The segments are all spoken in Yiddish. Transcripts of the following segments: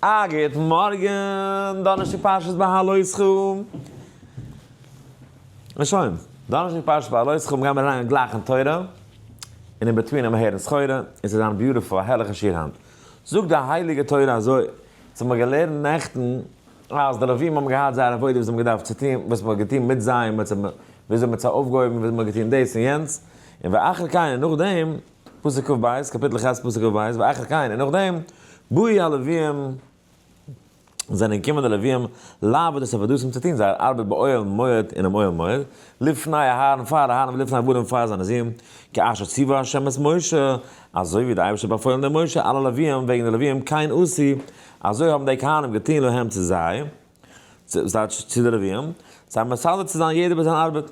א גוטן מארגן, דאנערשטאג פרשת בהעלותך. און שוין. דאנערשטאג פרשת בהעלותך גייען מיר אריין גלייך אין תורה, און אינבעטווין העמער הערן סחורה, און ס'איז זיין ביוטיפול, א הערליכע שיעור היינט. זאגט די הייליגע תורה אזוי, ס'האט מיר געלערנט נעכטן, אז די לווים האבן געהאט זייער עבודה וואס זיי האבן געדארפט צו טון, וואס מ'האט געטון מיט זיי, וויאזוי מ'האט זיי אויפגעהויבן, וויאזוי מ'האט געטון דאס און יענץ, און ואחר כן, און נאכדעם, פסוק כב בית, קאפיטל כז פסוק כב בית, ואחר כן, און נאכדעם, באו הלווים, זענען געקומען די לווים, לעבוד את עבודתם צו טון זייער ארבעט באוהל מועד אינעם אוהל מועד, לפני אהרן פאר אהרן ולפני עבדים פאר זיינע זין, כאשר ציווה ה' את משה, אזוי ווי דער אייבערשטער האט באפוילן דעם משה אלע לווים וועגן די לווים כן עשו, אזוי האבן די כהנים געטון להם צו זיי, צו די לווים, זיי מסדר צו זיין יעדער ביי זיין ארבעט.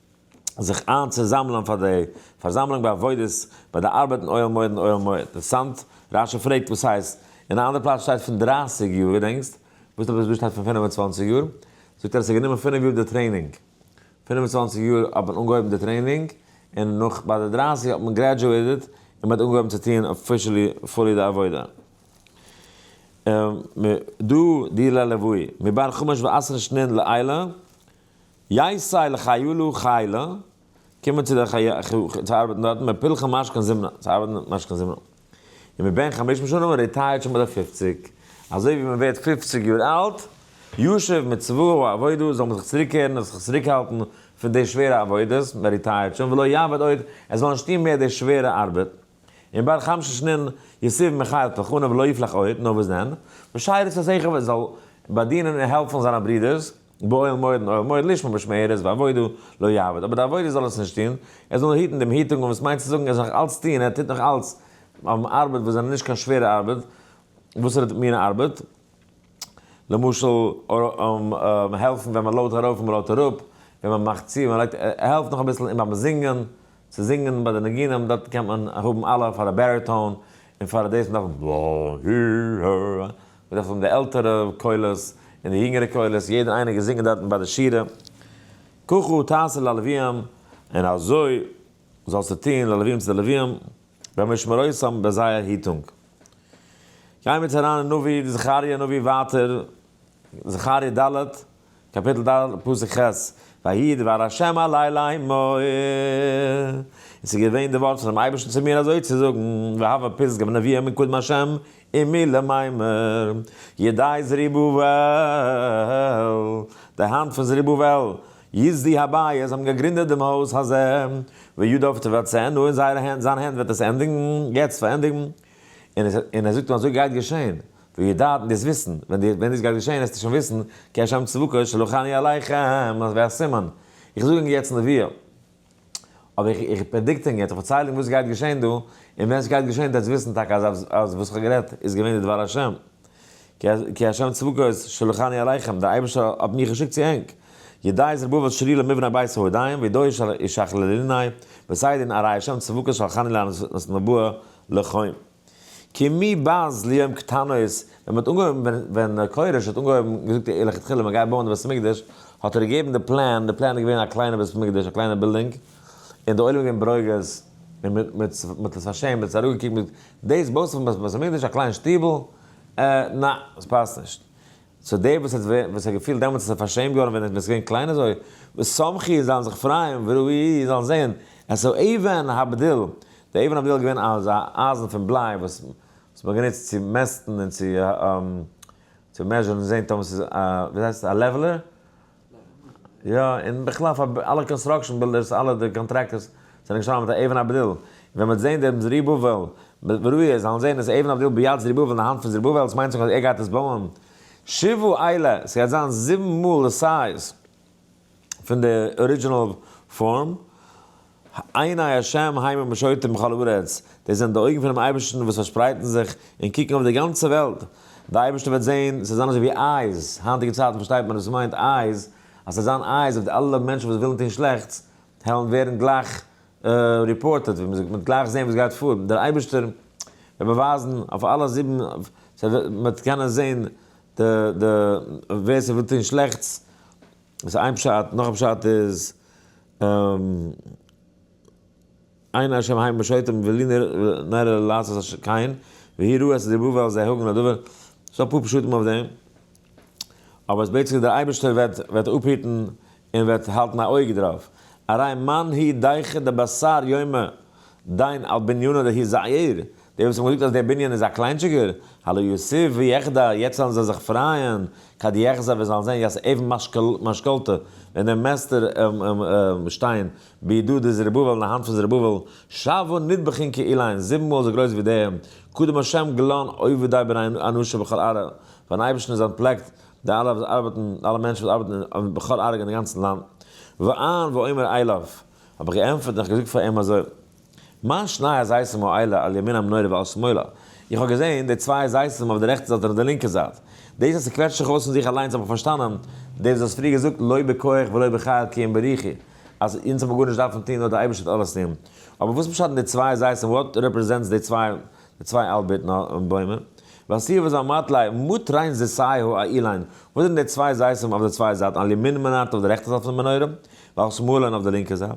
זיך איין צו זאמלען פאר די פארזאמלונג ביי עבודות ביי די ארבעט אין אוהל מועד אין אוהל מועד אינטערעסאנט רש י פרעגט וואס הייסט אין א אנדער פלאץ שטייט פון דרײַסיק יאר ווי דענקסט וואס האט עס דא שטייט פון פֿינף און צוואַנציק יאר זאגט ער עס האט גענומען פֿינף יאר די טרעינינג פֿינף און צוואַנציק יאר האט מען אנגעהויבן די טרעינינג און נאך ביי די דרײַסיק האט מען גרעדזשועיטעד און מען האט אנגעהויבן צו טוען אפישעלי פולי די עבודה. דא די לעלעווי מבאר חומש ועשרה שנין לעילה יעשי לחיילו חילה, קומען צו דער חי' צו ארבעטן דארטן, מפלחם משכן זמרה, צו ארבעטן משכן זמרה. און מבין חמשים שנה מען ריטייערט שוין ביי די פופציג, אזוי ווי מען ווערט פופציג יאר אלט, ישוב מצוה ועבודה זאל מען זיך צוריק קערן און זיך צוריקהאלטן פון די שווערע עבודות, מען ריטייערט שוין ולא יעבוד עוד, עס זאל נישט טון מער די שווערע ארבעט, און בין חמשים שנין יסב מחיל פלחנו ולא יפלח עוד, נאר וואס דען, בשיירת צאצאיך ווען ער זאל באדינען און העלפן זיינע ברודערס, באוהל מועד און אוהל מועד לשמה משמרת ועבודה לא יעבוד אבער די עבודה זאל עס נישט טוהן, ער זאל היטן דעם היטונג און וואס מיינט צו זאגן ער זאל נאך אלץ טוהן ער טוט נאך אלץ האבן ארבעט וואס זענען נישט קיין שווערע ארבעט, וואסערע מינע ארבעט? למשל העלפן ווען מען לאודט ארויף און מען לאודט אראפ, ווען מען מאכט צו, מען לייגט, ער העלפט נאך אביסל אין ביים זינגען, צו זינגען ביי די ניגונים דארט קען מען האבן אלע פאר א בעריטאון און פאר דאס נאך, בדרך כלל האבן די עלטערע קולות און די יונגערע קולות יעדער איינער געזינגען דארטן ביי די שירה ככה תעשה ללווים און אזוי זאלסטו טון ללווים צו די לווים במשמרותם ביי זייער היטונג. גיימיר יעצט אריין אין נביא זכריה נביא ווייטער זכריה ד'. קאפיטל ד פסוק ח' ויהי דבר השם אלי לאמור, און ס'איז געווען די ווארט פונעם אייבערשטן צו מיר אזוי צו זאגן, והוה פסגה ונביאה מקודם השם עמי לאמור, ידי זרובבל, די האנט פון זרובבל, יסדי הבית, זיי האבן געגרינדעט דעם הויז הזה, וידיו תבצענה, און זייערע הענט, זיין הענט וועט עס ענדיגן, יעצט פארענדיגן, און ער זאגט אים אזוי גייט געשען, וידעתם דאס וויסן, ווען די ווען דאס גייט געשען העסטו שוין וויסן, כי השם צבקות שלח אני אליכם, אז ווי א סימן, איך זאג ענק יעצט נביאה, אבער איך איך פרעדיקט ענק יעצט, איך פארצייל ענק וואס גייט געשען דא, און ווען ס'גייט געשען דעטס וויסן טאקע אז אז וואס כ'האב גערעדט איז געווען די דבר השם, כי השם צבקות שלח אני אליכם, דער אייבערשטער האט מיך געשיקט צו ענק, ידי זרובבל שלי למבנה בית ההודיים, וידו ישכללני, וסיידי נערי השם צבקות שלחני לאנוס נבואה לחוים. כי מי בז ליום קטנות, ווען מ'האט אנגעהויבן, ווען כורש האט אנגעהויבן, געזאגט איר לכתחילה מ'גייט בויען די בית המקדש, האט ער געגעבן די פלען, די פלען איז געווען א קליינע בית המקדש, א קליינע בילדינג, און די עולם איז געווען ברוגז, און מ'האט עס פארשעמט, מ'האט עס אראפגעקוקט מיט, דאס בויסט פון בית המקדש א קליין שטיבל? אה, נע, עס פאסט נישט. סאו דער וואס האט וואס האט געפילט דעמאלטס אז ער איז פארשעמט געווארן ווען עס איז געווען קליין אזוי, ושמחי זאלן זיך פרייען וראי' זאלן זען, עס איז אויבן הבדל, די אבן הבדילה איז געווען אזא אייזן פון בליי וואס האט מען גענוצט צו מעסטן און צו צו מעזשערן און זען טאמער ס'איז א ווי דאס הייסט א לעוועלער, יא, און בכלל פאר אלע קאנסטראקשען בילדערס אלע די קאנטראקטערס זענען געשטאנען מיט א אבן הבדיל, און ווען מ'וועט זען דעם זרובבל וראיה זאלן זען עס אבן הבדיל ביד זרובבל אין די האנט פון זרובבל עס מיינט זיך אז ער גייט עס בויען שבעה אלה, ס'גייט זיין זיבן מאל די סייז. פון די ארידזשינעל פארם, עיני השם המה משוטים בכל הארץ, דאס זענען די אויגן פונעם אייבערשטן וואס פארשפרייטן זיך און קוקן אויף די גאנצע וועלט, די אייבערשטער וועט זען, ס'זענען אזוי ווי אייז, היינטיגע צייטן פארשטייט מען וואס ס'מיינט אייז, אז ס'זענען אייז אויף די אלע מענטשן וואס ווילן טון שלעכטס, העלן ווערן גלייך ריפארטעד, ווי מ'זאגט, מ'וועט גלייך זען וואס גייט פאר, דער אייבערשטער וועט באווייזן אויף אלע זיבן, ס'וועט, מ'וועט קענען זען די די ווער ס'וויל טון שלעכטס איז איין פשט נאך א פשט איז עיני השם המה שויתים ולי נראה לעשות אשר כן והיא רואה עשה דרבו ועל זה הוגן הדבר ס'דא אפאר פשטים אויף דעם אבער אז בעצם דער אייבערשטער וועט וועט אפהיטן און וועט האלטן א אויג דערויף הרי מאן היא דאיכא דבשר יומא דיין על בנינה דהי' זייער, דער וואס האט מיר געזאגט אז דער בנין איז א קליינטשיגער, הלא יוסיף ויחדל, יעצט וועלן זיי זיך פרייען, כד יחזב ווען זיי וועלן זען יעצט אבן משכלתא, ווען דער מעסטער שטיין בידו די זרובבל אין די האנט פון זרובבל, שבעה נדבכין כאילן, זיבן מאל אזוי גרויס ווי דעם, קדם השם גלאון עובדיו בין אנושה בכל ארג, פארן אייבערשטן איז אנטפלעקט די אלע וואס ארבעטן, אלע מענטשן וואס ארבעטן בכל ארג אין די גאנצן לאנד, ועיין ועומר אליו. האב איך געענטפערט און איך געזאגט פאר אים אזוי, מיין שניי איז זייסע מועילה על ימין המנורה ועל שמאלה, איך האב געזען די צוויי זייסען אויף די רעכטע זייט און אויף די לינקע זייט, דאס אז ס'קוועטשט זיך אויס פון זיך אליינס האב איך פארשטאנען, דאס וואס האסט פריער געזאגט לא בכח ולא בחיל כי אם ברוחי, אז אונז האב מיר גארנישט דארפן טון נאר די אייבערשטער האט אלעס טון, אבער וואס פשט אין די צוויי זייסען וואט רעפרעזענטס די צוויי די צוויי אלבערט נאר בוימער? ועשיר וזל מאטליי מוט ריין זיסאיהו א אילאין, וואס זענען די צוויי זייסען אויף די צוויי זייטן על ימין מנרתו אויף די רעכטע זייט פון די מנורה? נאך שמאלען אויף די לינקע זייט,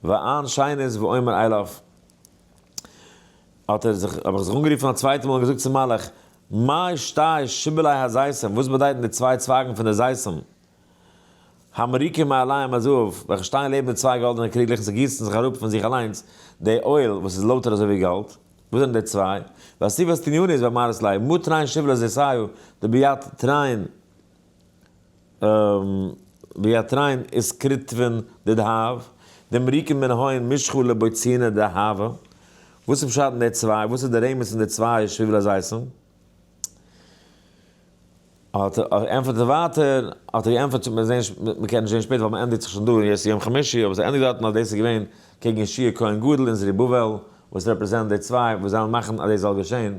ואען שיין איז ואומר אליו, האט ער זיך, האב איך זיך אנגערופן א צווייטע מאל און געזאגט צום מלאך, מאי שתי שיבולי הזיתים, וואס באדייטן די צוויי צווייגן פון די זיתים, המריקין מעליהם הזהב, וועלכע שטייען לעבן די צוויי גאלדענע קריגלעך און ס'גיסן זיך אראפ פון זיך אליינס די אויל וואס איז לויטער אזוי ווי גאלד, וואס זענען די צוויי? והסיבת עניני איז ואמרת לי, מה תראין שיבולי זיתיו דביד תראין ווי א טריין איז כרטבן דדהב, דעם ריקן מן האין משכו לבויצינא דהבה, וואס איז פשט אין די צוויי, וואס איז די רמז פון די צוויי שביל הזיתים? האט ער ענטפערט ער ווייטער, האט ער געענטפערט מ'וועט זעהן, מ'קען נישט זעהן שפעטער ווייל מ'ענדיגט זיך שוין דא און יעצט איז יום חמישי, אבער ס'ענדיגט דארטן אז דאס איז געווען קעגן ישעי' כהן גדול און זרובבל וואס רעפרעזענט די צוויי וואס וועלן מאכן אז דאס זאל געשעהן.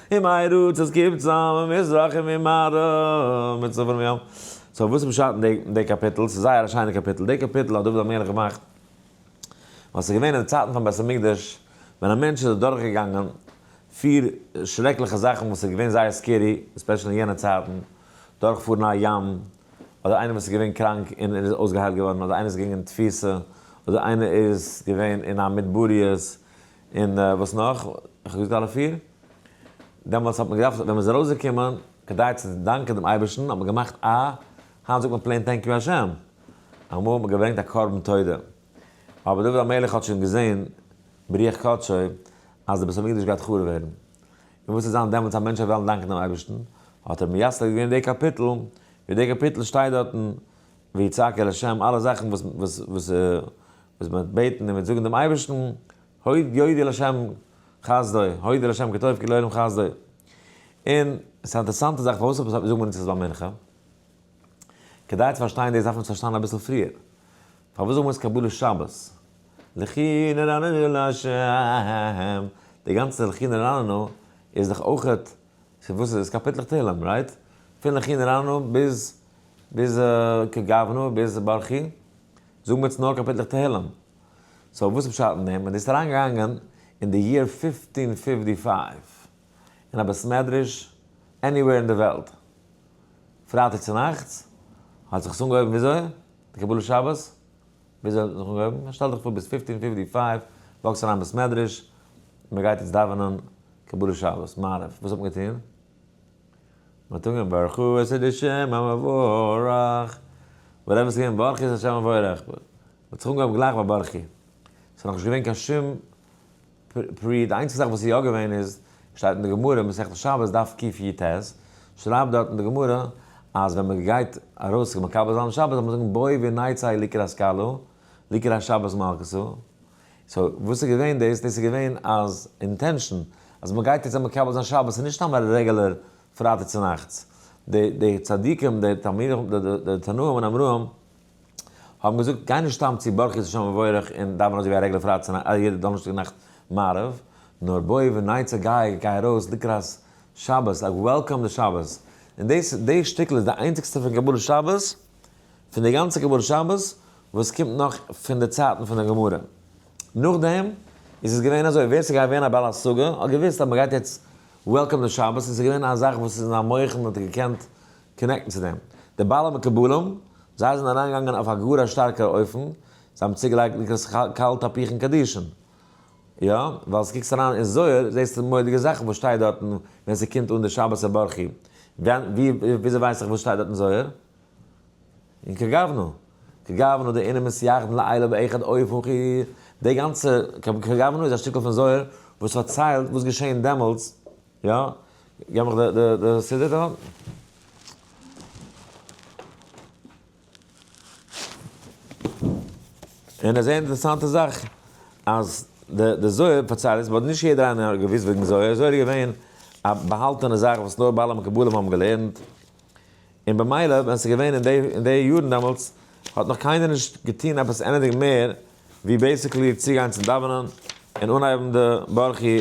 אין מיין ראץ עס קומט צוזאם אין מזרח און אין מערב מיט צפון און ים. סאו וואס איז פשט אין די קאפיטל? ס'איז זייער א שיינע קאפיטל. די קאפיטל האט דוד המלך געמאכט ווען ס'איז געווען אין די צייטן פון בית המקדש ווען א מענטש איז אדורך געגאנגען פיר שרעקליכע זאכן וואס איז געווען זייער סקערי עספעשל אין יענע צייטן דורך פארן א ים אדער איינער וואס איז געווען קראנק און ער איז אויסגעהיילט געווארן אדער איינער איז געגאנגען אין תפיסה אדער איינער איז געווען אין א מדבריות און וואס נאך? איך האב געזאגט אלע פיר? דעמאלטס האט מען געדארפט ווען מען איז ארויסגעקומען כדי צו דאנקען דעם אייבערשטן האט מען געמאכט א, היינט זאגט מען פלעין טענק יו השם, אמאל האט מען געברענגט א קרבן תודה, אבער דוד המלך האט שוין געזען ברוח קדשו אז דער בית המקדש גייט חרוב ווערן, און וואס וועט זיין דעמאלטס אז מענטשן וועלן דאנקען דעם אייבערשטן, האט ער מייסד געווען די קאפיטל, ווי די קאפיטל שטייט דארטן, ויצעק אל השם, אלע זאכן וואס וואס מען וועט בעטן און מען וועט זאגן דעם אייבערשטן, הוד יודי לשם חסדו, הודו לשם כי טוב כי לעולם חסדו. און ס'איז א אינטערעסאנטע זאך פארוואס זאגט מען אונז עס ביי מנחה? כדי צו פארשטיין דאס דארף מען עס פארשטיין אביסל פריער. פארוואס זאגן מיר עס קבלת שבת? לכי נרננו להשם, די גאנצע לכי נרננו איז דאך אויך פון וואס איז עס? קאפיטלעך תהלים, רייט? פון לכי נרננו ביז. ביז כ ג אב נו ביז ברכי זאגן מיר צו נאר קאפיטלעך תהלים, סאו וואס איז פשט אין דעם? און דאס איז אריין געגאנגען אין די יער פיפטין פיפטי פייוו אין א בית מדרש עניוועיר אין די וועלט, פרייטאג צונאכטס האט זיך עס אנגעהויבן וויאזוי? די קבלת שבת וויאזוי האט זיך אנגעהויבן? שטעל דיך פאר ביז פיפטין פיפטי פייוו וואקסט אריין בית מדרש, מען גייט יעצט דאווענען קבלת שבת, מעריב, וואס האט מען געטון? מ'האט אנגעהויבן ברכו את השם המבורך, ווייל אמת איז געווען ברכי את השם המבורך, מ'האט זיך אנגעהויבן גלייך ביי ברכי, ס'איז נאכנישט געווען קיין שום פרי, די איינציגסטע זאך וואס איז יא געווען איז, שטייט אין די גמרא מסכת שבת דף קיט י ט, שרייבט דארט אין די גמרא אז ווען מ'גייט ארויס זיך מקבל זיין שבת זאל מען זאגן בואי ונצא לקראת כלה לקראת שבת מלכותו, סאו וואס איז געווען דאס? דאס איז געווען אז אינטענשאן אז מען גייט יעצט זיי מקבל זיין שבת איז נישט סתם א רעגולער פרייטאג צו נאכטס. די די צדיקים די תלמידי חכמים די די די תנאים און אמראים האבן געזאגט גיי נישט סתם צו ברכות השם וברך און דאווען אזוי ווי א רעגולער פרייטאג צו נאכט יעדע דאנערשטאג נאכט מעריב, נאר בואי ונצא גיי גיי ארויס לקראת שבת, לייק וועלקאם די שבת, און דאס די שטיקל איז די איינציגסטע פון קבלת שבת, פון די גאנצע קבלת שבת וואס קומט נאך פון די צייטן פון די גמרא. נאכדעם איז עס געווען אזוי, ווער ס'איז געווען א בעל השגה האט געוואוסט אז מ'גייט יעצט וועלקאמען שבת, און ס'איז געווען א זאך וואס איז אין א מוח'ן האט ער געקענט קאנעקטן צו דעם. די בעלי מקובלים, זיי זענען אריינגעגאנגען אויף א גאר א שטארקער אופן, זיי האבן צוגעלייגט נקרא קאלט תפיחין קדישין. יא, ווייל אז קוקסט אריין אין זוהר זעסטו מורא'דיגע זאכן וואס שטייט דארטן ווען ס'קומט אן די שבת הברכי. וויאזוי ווייס איך וואס שטייט דארט אין זוהר? און כגוונא. כגוונא די אינעם מסייעתן לעילה באחד אויפן חו. די גאנצע כגוונא איז א שטיקל פון זוהר וואס פארציילט וואס געשעהן דעמאלטס. יא, געב מיך די סידור דא. און א זייער אינטערעסאנטע זאך אז די די זוהר פארציילט עס באט נישט יעדער איינער האט געוויסט וועגן זוהר, זוהר איז געווען א באהאלטענע זאך וואס נאר בעלי מקובלים האבן געלערנט, און במילא ווען עס איז געווען אין די אין די יארן דעמאלטס האט נאך קיינער נישט געטוהן עפעס עניטינג מער ווי בעיסיקלי צוגיין צום דאווענען און אנהייבן די ברכי,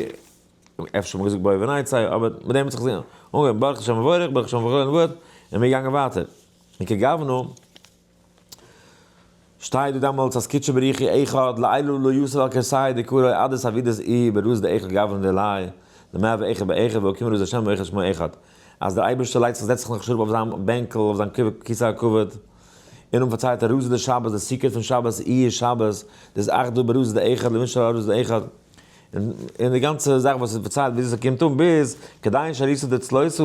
אפשר האט מען געזאגט בואי ונצא, אבער מיט דעם האט זיך עס אנגעהויבן, ברוך השם וברך, ברוך השם וברך, און מיר געגאנגען ווייטער. און כגוונא שטייט דא דעמאלטס אז קודשא בריך היא אחד לעילא לא יוסף על כרסי דקרא אי עדת אבידע ז אי ברז ד אחד גברא ונראה לעיל דמי אב אחד באחד והוא כמ רז השם ואחד שמו אחד אז דער אייבערשטער לייגט זיך זעצט זיך נאך שרוב אויף זיין בענקל אויף זיין כסא הכבוד און דעם פארציילט ער רז ד שבת דער סוכות פון שבת אי איז שבת דאס אחדא ברז ד אחד למשל א רז ד אחד און די גאנצע זאך וואס איז פארציילט וויאזוי ס'קומט אן ביז כדאין שעריסא דאצלוסא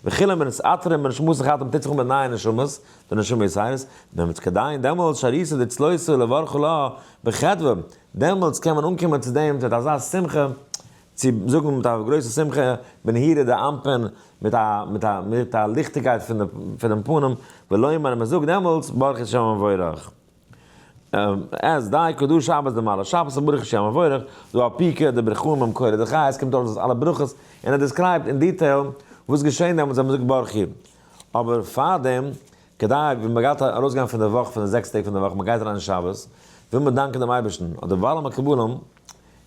וכו' מען איז אתר און בנשמות החתם טוט זיך אן מיט נייע נשמות די נשמה איז הייס דעמאלטס כדאין דעמאלטס שעריסא דאצלוסא לברכו לה בחדוה דעמאלטס קען מען אנקומען צו דעם מיט אזא שמחה צו זאגן מיט א גרויסע שמחה בנהירה דאנפין מיט א מיט א מיט א ליכטיגקייט פונעם פנים ולומר און מען זאגט דעמאלטס ברוך שם מבורך. אז די קדוש שבת די מעלה שבת און ברוך השם מבורך דא א פי ק די ברכו ם מקור די חי עס קומט אויס דאס אלע ברכות און ער דיסקרייבט אין דיטעיל וואס געשעהן דעמאלטס ווען מען זאגט ברוך י אבער פארדעם כדי ווען מען גייט ארויס גיין פון די וואך פון די זעקס טעג פון די וואך מען גייט אריין אין שבת וויל מען דאנקען דעם אייבערשטן אדער ווייל מען קבל אים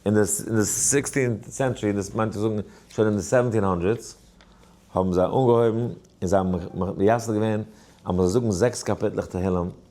אין די אין די סיקסטין סענטשרי דאס מיינט צו זאגן שוין אין די סעווענטין האנדרעדס האבן זיי אנגעהויבן און זיי האבן מייסד געווען אז מען זאל זאגן זעקס קאפיטלעך תהלים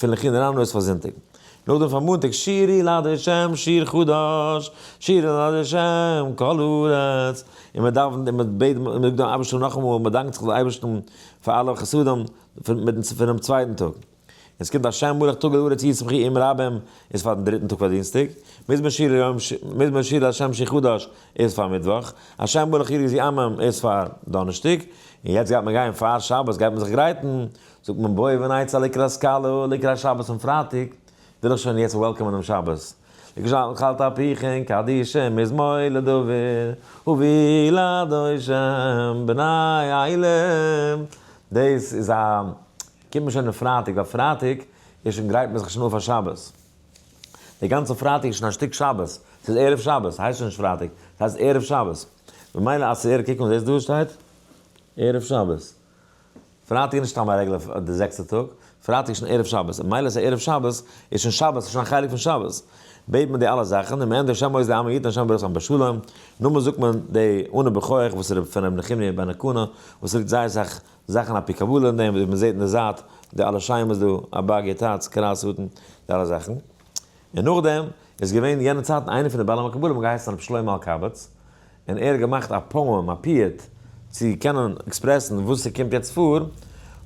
פון לכין אריין אויס פאר זונטאג. נאכדעם פאר מאנטאג שירי לה' שיר חדש, שירי לה' כל הארץ, און מען דאווענט און מען בעט און מען זאגט דעם אייבערשטן נאכאמאל און מען דאנקט זיך דעם אייבערשטן פאר אלע חסדים פונעם צווייטן טאג. און עס קומט א שיין מהלך טאג להארץ אי שמחי עם רבים איז פאר דעם דריטן טאג פאר דינסטאג, מזמור שירי לה' שיר חדש איז פאר מיטוואך, א שיין מהלך עיר יזי עמם איז פאר דאנערשטאג, און יעצט גייט מען גיין פאר שבת גייט מען זיך גרייטן זאגט מען בואי ונצא לקראת סקאלא לקראת שבת און פרייטאג וויל איך שוין יעצט וועלקאמען דעם שבת לקשת אכלת אפיכם קדיש מזמור לדוד הוביל אדונישם בני עילם דאס איז א קומט מען שוין און פרייטאג ווייל פרייטאג איז שוין גרייט מען זיך שוין אויף פאר שבת די גאנצע פרייטאג איז שוין א שטיק שבת ס'איז ערב שבת הייסט שוין נישט פרייטאג ס'הייסט ערב שבת ממילא אז ס'ערב קוק נאך דאס דא שטייט ערב שבת. פרייטאג איז נישט סתם א רעגולער פרייטאג, די זעקסטע טאג, פרייטאג איז שוין ערב שבת, און מילא ס'איז ערב שבת, איז שוין שבת, איז שוין א חלק פון שבת, בעט מען די אלע זאכן, און מען ענדיגט שם עוז לעמו יתן השם בריתם בשלום, נאכדעם זאגט מען די אנא בכוח וואס איז פון ר' נחמיה בן הקנה, וואס ליגט זייער אסאך זאכן אפי' קבלה אין דעם, ווי מען זעט אין די זייט, די אלע שיימעס דא, אבג ע, טאץ, קרית אתא, די אלע זאכן. און נאכדעם איז געווען יענע צייטן איינער פון די בעלי מקובלים געהייסן הרב שלמה אלקבץ, און ער האט געמאכט א פאום, א פיוט, צו קענען עקספרעסן וואס ס'קומט יעצט פאר,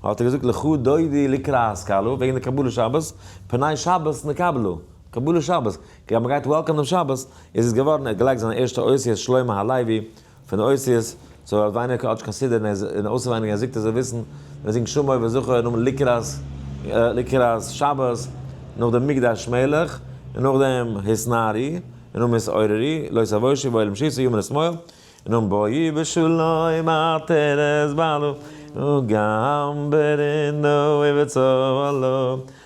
האט ער געזאגט לכה דודי לקרא השכלו, וועגן די קבלת שבת, פני שבת נקבלו, קבלת שבת, כ'גלייב מ'גייט וועלקאם דעם שבת, איז עס געווארן, ער האט געלייגט זיין ערשטע אות יהיה שלמה הלוי, פון אותיות, סאו ער האט ווייניגער כאטש קיין סידור און אויסער ווייניגער ער זיגט ער זאל וויסן ווען ער זינגט שמור וזכור און נאכדעם לקראת לקראת שבת נאכדעם מקדש מלך און נאכדעם התנערי און נאכדעם התעוררי לא תבושי בעולם שישי יאמר אשמור און נאכדעם בואי בשלום עטרת בעלך וגם ברנה ובצהלה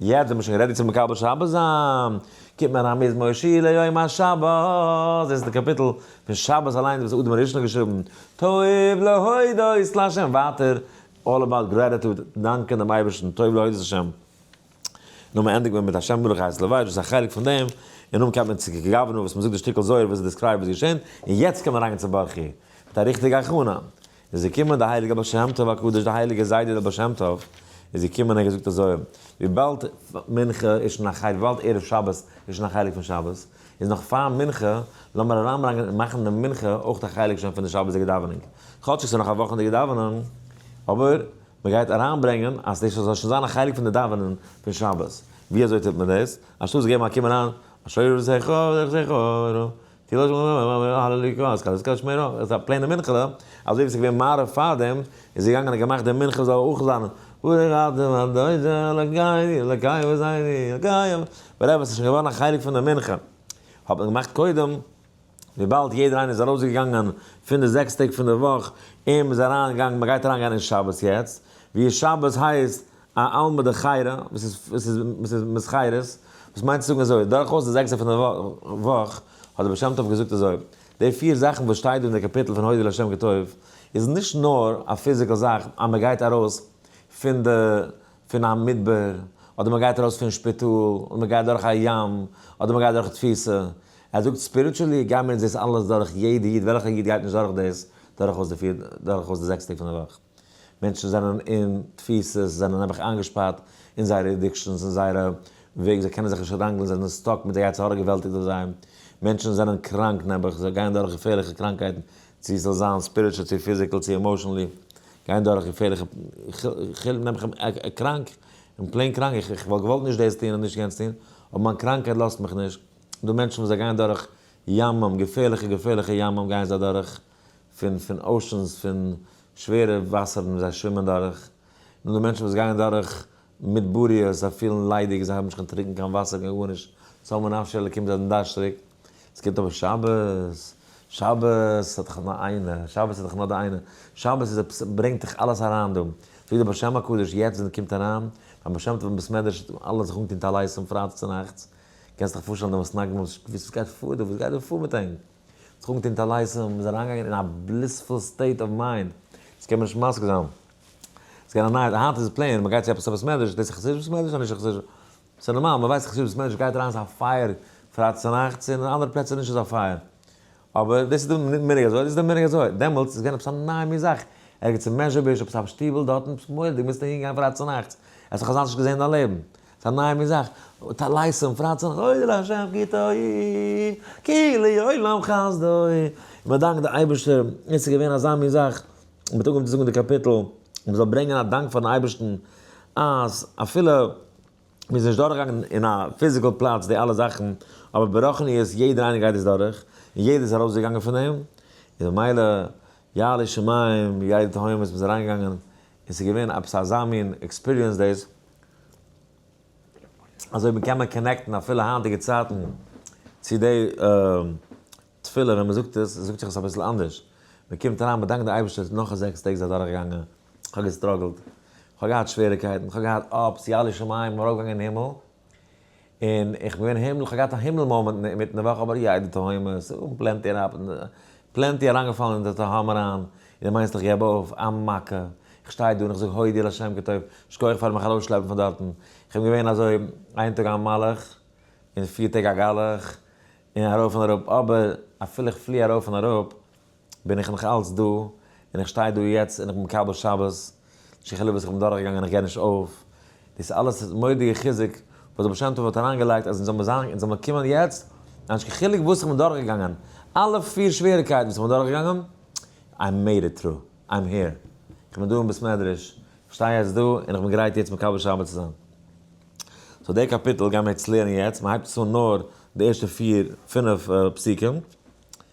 יעצט זעמיר שוין רעדי צו מקבל שבת זיין, קומט מיר א מזמור שיר ליום השבת, דאס איז די קאפיטל פון שבת אליינס וואס אדם הראשון האט געשריבן, טוב להודות להשם, ווייטער אלל אבאוט גרעטיטוד, דאנקען דעם אייבערשטן, טוב להודות להשם, נו מען ענדיגט מען מיט השם מלך הארץ לבית וואס איז א חלק פון דעם, און נאכדעם קייט מען צו כ ק גאווערנאר וואס מען זאגט די שטיקל זוהר וואס איז דעסקרייבט וואס איז געשען, און יעצט קומט מען אריין אין צבחי, מיט א ריכטיגע הכנה, איז געקומען דער הייליגער בעל שם טוב הקדוש, דער הייליגער זיידע דער בעל שם טוב איז געקומען און געזאגט אזוי, וויבאלד מנחה איז שוין א חלק, וויבאלד ערב שבת איז שוין א חלק פון שבת, איז נאך פאר מנחה, לאמיר אריינברענגען און מאכן די מנחה אויך א חלק שוין פון די שבת'דיגע דאווענונג, כאטשיג ס'איז נאך א וואכנדיגע דאווענונג, אבער מען גייט אריינברענגען אז דאס זאל שוין זיין א חלק פון די דאווענען פון שבת, ווי אזוי טוט מען דאס? אנשטאט צו געבן א קום אריין, אשרי רוחך אשרי רוחך, די לאזט שוין נישט אריין קיין הללו קה אז קאליסקא שמער אויך עס איז א פלעינע מנחה אזוי ווי עס איז געווען מעריב פארדעם איז ער געגאנגען און געמאכט די מנחה זאל אויך זיין הוי רדו הדויזע לקיים לקיים וואס זיין לקיים ווטעווער עס איז שוין געווארן א חלק פון די מנחה האט מען געמאכט קודם וויבאלד יעדער איינער איז ארויסגעגאנגען פון די זעקס טעג פון די וואך און מען איז אריין געגאנגען מען גייט אריין גיין אין שבת יעצט ווי שבת הייסט א עלמא דחירא, וואס איז, וואס איז, וואס איז מסחרית, וואס מיינט צו זאגן אזוי, דורכאויס די זעקסע פון די וואך, האט דער בעל שם טוב געזאגט אזוי, די פיר זאכן וואס שטייט דא אין די קאפיטל פון הודו לה' כי טוב, איז נישט נאר א פיזיקעל זאך אז מען גייט ארויס פון די, פון א מדבר, אדער מען גייט ארויס פון שפיטאל, אדער מען גייט דורך א ים, אדער מען גייט דורך תפיסה, ער זאגט ספיריטשעלי גיימער אונז דאס אלעס דורך, יעדע איד, וועלכע איד גייט נישט דורך דאס, דורכאויס די פיר, דורכאויס די זעקס טעג פון די וואך. מענטשן זענען אין תפיסות, זענען נעבעך איינגעשפארט אין זייערע אדיקשאנס, אין זייערע וועג, זיי קענען זיך נישט ראנגלען, זיי זענען סטאק מיט די יצר הרע געוועלטיגט אויף זיי, מענטשן זענען קראנק נעבעך, זיי גייען דורך געפערליכע קראנקייטן, צו ס'זאל זיין ספיריטשול צו פיזיקעל צו עמאשענלי, גייען דורך געפערליכע, כ'העל נעבעך קראנק, און פלעין קראנק, איך איך וואלט געוואלט נישט דאס טון און נישט יענץ טון, אבער מיין קראנקייט לאזט מיך נישט, דא מענטשן וואס זיי גייען דורך ימים, געפערליכע געפערליכע ימים גייען זיי אדורך, פון פון אושענס פון שווערע וואסערן וואס זיי שווימען דורך, און די מענטשן וואס גייען דורך מדבריות זיי פילן ליידיג זיי האבן נישט קיין טרינקן קיין וואסער קיין גארנישט צלמו נפשי אלקים זיי זענען דארשטריג, עס קומט אבער שבת, שבת איז דאך נאר איינע, שבת איז דאך נאר די איינע, שבת איז עפעס ברענגט דאך אלעס אריין דא, ווי דער בשם הקדוש יעצט ווען ער קומט אריין ביים בעל שם טוב אין בית מדרש טוט מען אלע זיך אנטון טלית פון פרייטאג צו נאכטס, קענסט דיך פארשטעלן די מסנגדים וואס גייט פאר דא וואס גייט דא פאר מיט ענק. טרונקט אונטער לייזער, מען איז אריינגעגאנגען אין א בליספול סטעיט אוו מיינד, דאס קען מען נישט מסביר זיין, ס'איז געווען א נייעס, היינט איז פלעין, מען גייט צו עפעס אויף בית מדרש, דאס איז חסידיש בית מדרש אדער נישט חסידיש, ס'איז נארמאל, מען ווייסט חסידיש בית מדרש גייט אריין ס'איז א פייער פרייטאג צונאכטס, און אין אנדערע פלעצער נישט אזא פייער, אבער דאס איז די מנהג אזוי, דאס איז די מנהג אזוי, דעמאלטס איז געווען עפעס א נייע מין זאך, ערגעץ אין מעזשביזש עפעס א שטיבל דארטן, עפעס מורא'דיג, מוזט אהין גיין פרייטאג צונאכטס, עס האט זיך אזאנס נישט געזען אין דיין לעבן, ס'אַ נײַ מין זאַך, האָט אַ לײַס און פֿרײט זיך, אוי דער השם גיטוי, כי לעולם חסדוי. מע דאַנקט דער אייבערשטער, יעצט איז געווען אַזאַ מין זאַך, מ'האָט אָנגעהויבן צו זאָגן די קאַפּיטל, מע זאָל ברענגען אַ דאַנק פֿאַרן אייבערשטן, אַז אַפֿילו מ'איז נישט דורכגעגאַנגען אין אַ פֿיזיקל פּלאַץ די אַלע זאַכן, אָבער ברוחניות יעדער איינער גייט דאָס דורך, און יעדער איז אַרויסגעגאַנגען פֿון דעם, און ממילא יעלי שמים, יעלי תהומות, מ'איז אַרײַנגעגאַנגען, און ס'איז געווען עפּעס אַזאַ מין עקספּיריענס דאָס. אזוי ווי מ'קען מען קאנעקטן אפילו היינטיגע צייטן צו די תפילה ווען מ'זאגט עס, זאגט זיך עס אביסל אנדערש, מ'קומט אריין מ'דאנקט די אייבערשטער נאך זעקס טעג איז אדורכגעגאנגען, כ'האב געסטראגלט, כ'האב געהאט שוועריקייטן, כ'האב געהאט אפס, ירא שמים, מ'ארויפגעגאנגען אין הימל, און איך בין געווען הימל, איך האב געהאט א הימל מאמענט אינמיטן די וואך, אבער יא די תהומות, און פלענטי אראפ, פלענטי אריינגעפאלן אין די תהום אריין, און מיינסט איך געב אויף? א מכה! איך שטיי דא און איך זאג הודי' לשם כי טוב, שכוח פארן מיך ארויסשלעפן פון דארטן, איך בין געווען אזוי איין טאג א מלאך, און פיר טעג א גלח, און ארויף און אראפ, אבער אפילו איך פלי ארויף און אראפ, בין איך נאך אלץ דא, און איך שטיי דא יעצט און איך בין מקבל שבת, ש כ וואס איך בין דורכגעגאנגען און איך גיב נישט אויף, דאס אלעס איז מודיע חיזוק וואס דער בעל שם טוב האט אריינגעלייגט אז אונז זאלן מיר זיין אונז זאלן מיר קומען יעצט, אנ ש חילוק וואס איך בין דורכגעגאנגען, אלע פיר שוועריקייטן וואס איך בין דורכגעגאנגען, איי מעיד איט טרו, איים העיר, איך בין דא אין בית מדרש, איך שטיי יעצט דא און איך בין גרייט יעצט מקבל שבת צו זיין. סאו די קאפיטל גייען מיר יעצט לערנען יעצט, מען הייבט עס אן נאר די ערשטע פיר פינף פסוקים,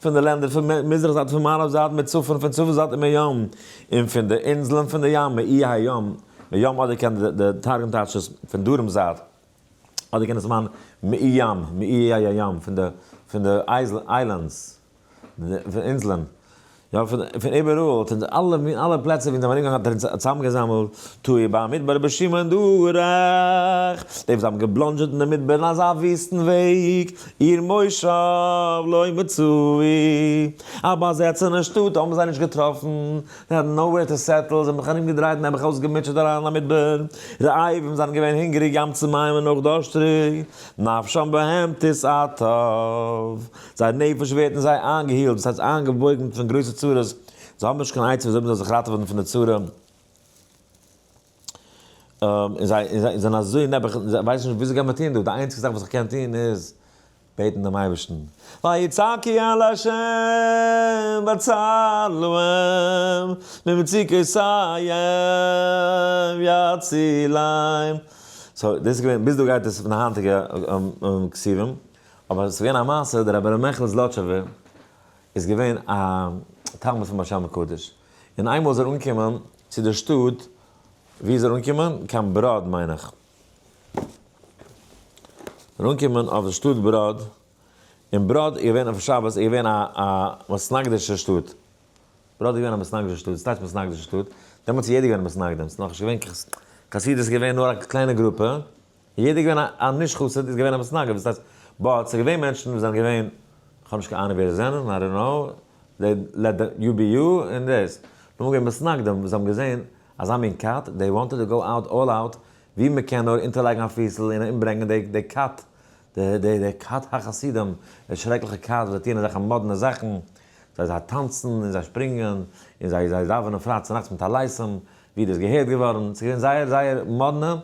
פון די לענדער פון מזרח זייט און פון מערב זייט מיט צפון פון צפון זייט און מים, און פון די אינזלען פון די ים מאיי הים, מים אדער קען די תרגום טייטשן עס פון דרום זייט, אדער קען עס מיינען מאיי ים, מאיי הים, פון די אייזלענדס, אינזלען. נאר פון פון איבעראל, פון די אלע מין אלע פלעצער ווי אונז האבן ארומגעגאנגען האט ער אונז צוזאמגעזאמלט, תוהו ביים מדבר רבי שמעון דורך די וואס האבן געבלאנדזשעט אין די מדבר אין אזא וויסטן וועג, עיר מושב לא מצאו, א באזעצענע שטאט האבן זיי נישט געטראפן, זיי האבן נאו וועיר טו סעטל, זיי האבן זיך ארומגעדרייט און נעבעך אויסגעמוטשעט אריין אין א מדבר, רעבים, זיי זענען געווען הונגעריג ים צו מים און אויך דארשטריג, נפשם בהמתיס עתיו. זייער נפש ווערט אין זיי איינגעהילט, דאס הייסט איינגעוואויגן מיט פון גרויסע צרות, זיי האבן נישט קיין עצה וויאזוי מ'זאל זיך ראטעווען פון די צרה, און זיי און זיי זענען אזוי נעבעך און זיי ווייסן נישט וויאזוי גייט מען טון דא, די איינציגע זאך וואס איך קען טון איז בעטן דעם אייבערשטן, ויצעקי אל ה' והצל להם, ממצוקותיהם יצילם, סאו דאס איז געווען, ביז דא גייט עס פון די היינטיגע כתבים. אבער עס איז געווען א מעשה, דער רבי ר' מעכל זלאטשובער איז געווען א תלמיד פון באר שבע קדוש, און איינמאל איז ער אנגעקומען צו דער שטאט, וואו איז ער אנגעקומען? קיין בראד מיין איך, ער איז אנגעקומען אויף די שטאט בראד, און בראד איז געווען אויף שבת איז געווען א א מסנגדישע שטאט, בראד איז געווען א מסנגדישע שטאט, וואס טייטש מסנגדישע שטאט? דעמאלטס איז יעדער געווען א מסנגדים, ס'איז נאך נישט געווען חסידות איז געווען נאר א קליינע גרופע, יעדער איז געווען א נישט חסיד איז געווען א מתנגד וואס הייסט באט ס'איז געווען מענטשן וואס זענען געווען כ'האב נישט קיין אהנונג ווער זיי זענען איי דאנט קנאו זיי לעט דעם יו בי יו און דאס נאר געווען מתנגדים וואס האבן געזען אזא מין כת דעי וואנטעד טו גאו אוט אלל אוט ווי מ'קען נאר אונטערלייגן א פיסל און אומברענגן דעי דעי כת דעי דעי כת החסידים דעי שרעקליכע כת וואס זיי טוען אזעלכע מאדנע זאכן זיי זיי טאנצן און זיי שפרינגען און זיי זיי דאווענען פריי צונאכטס מיט א לייסם ווי דאס געהערט געווארן, ס'איז געווען זייער זייער מאדנע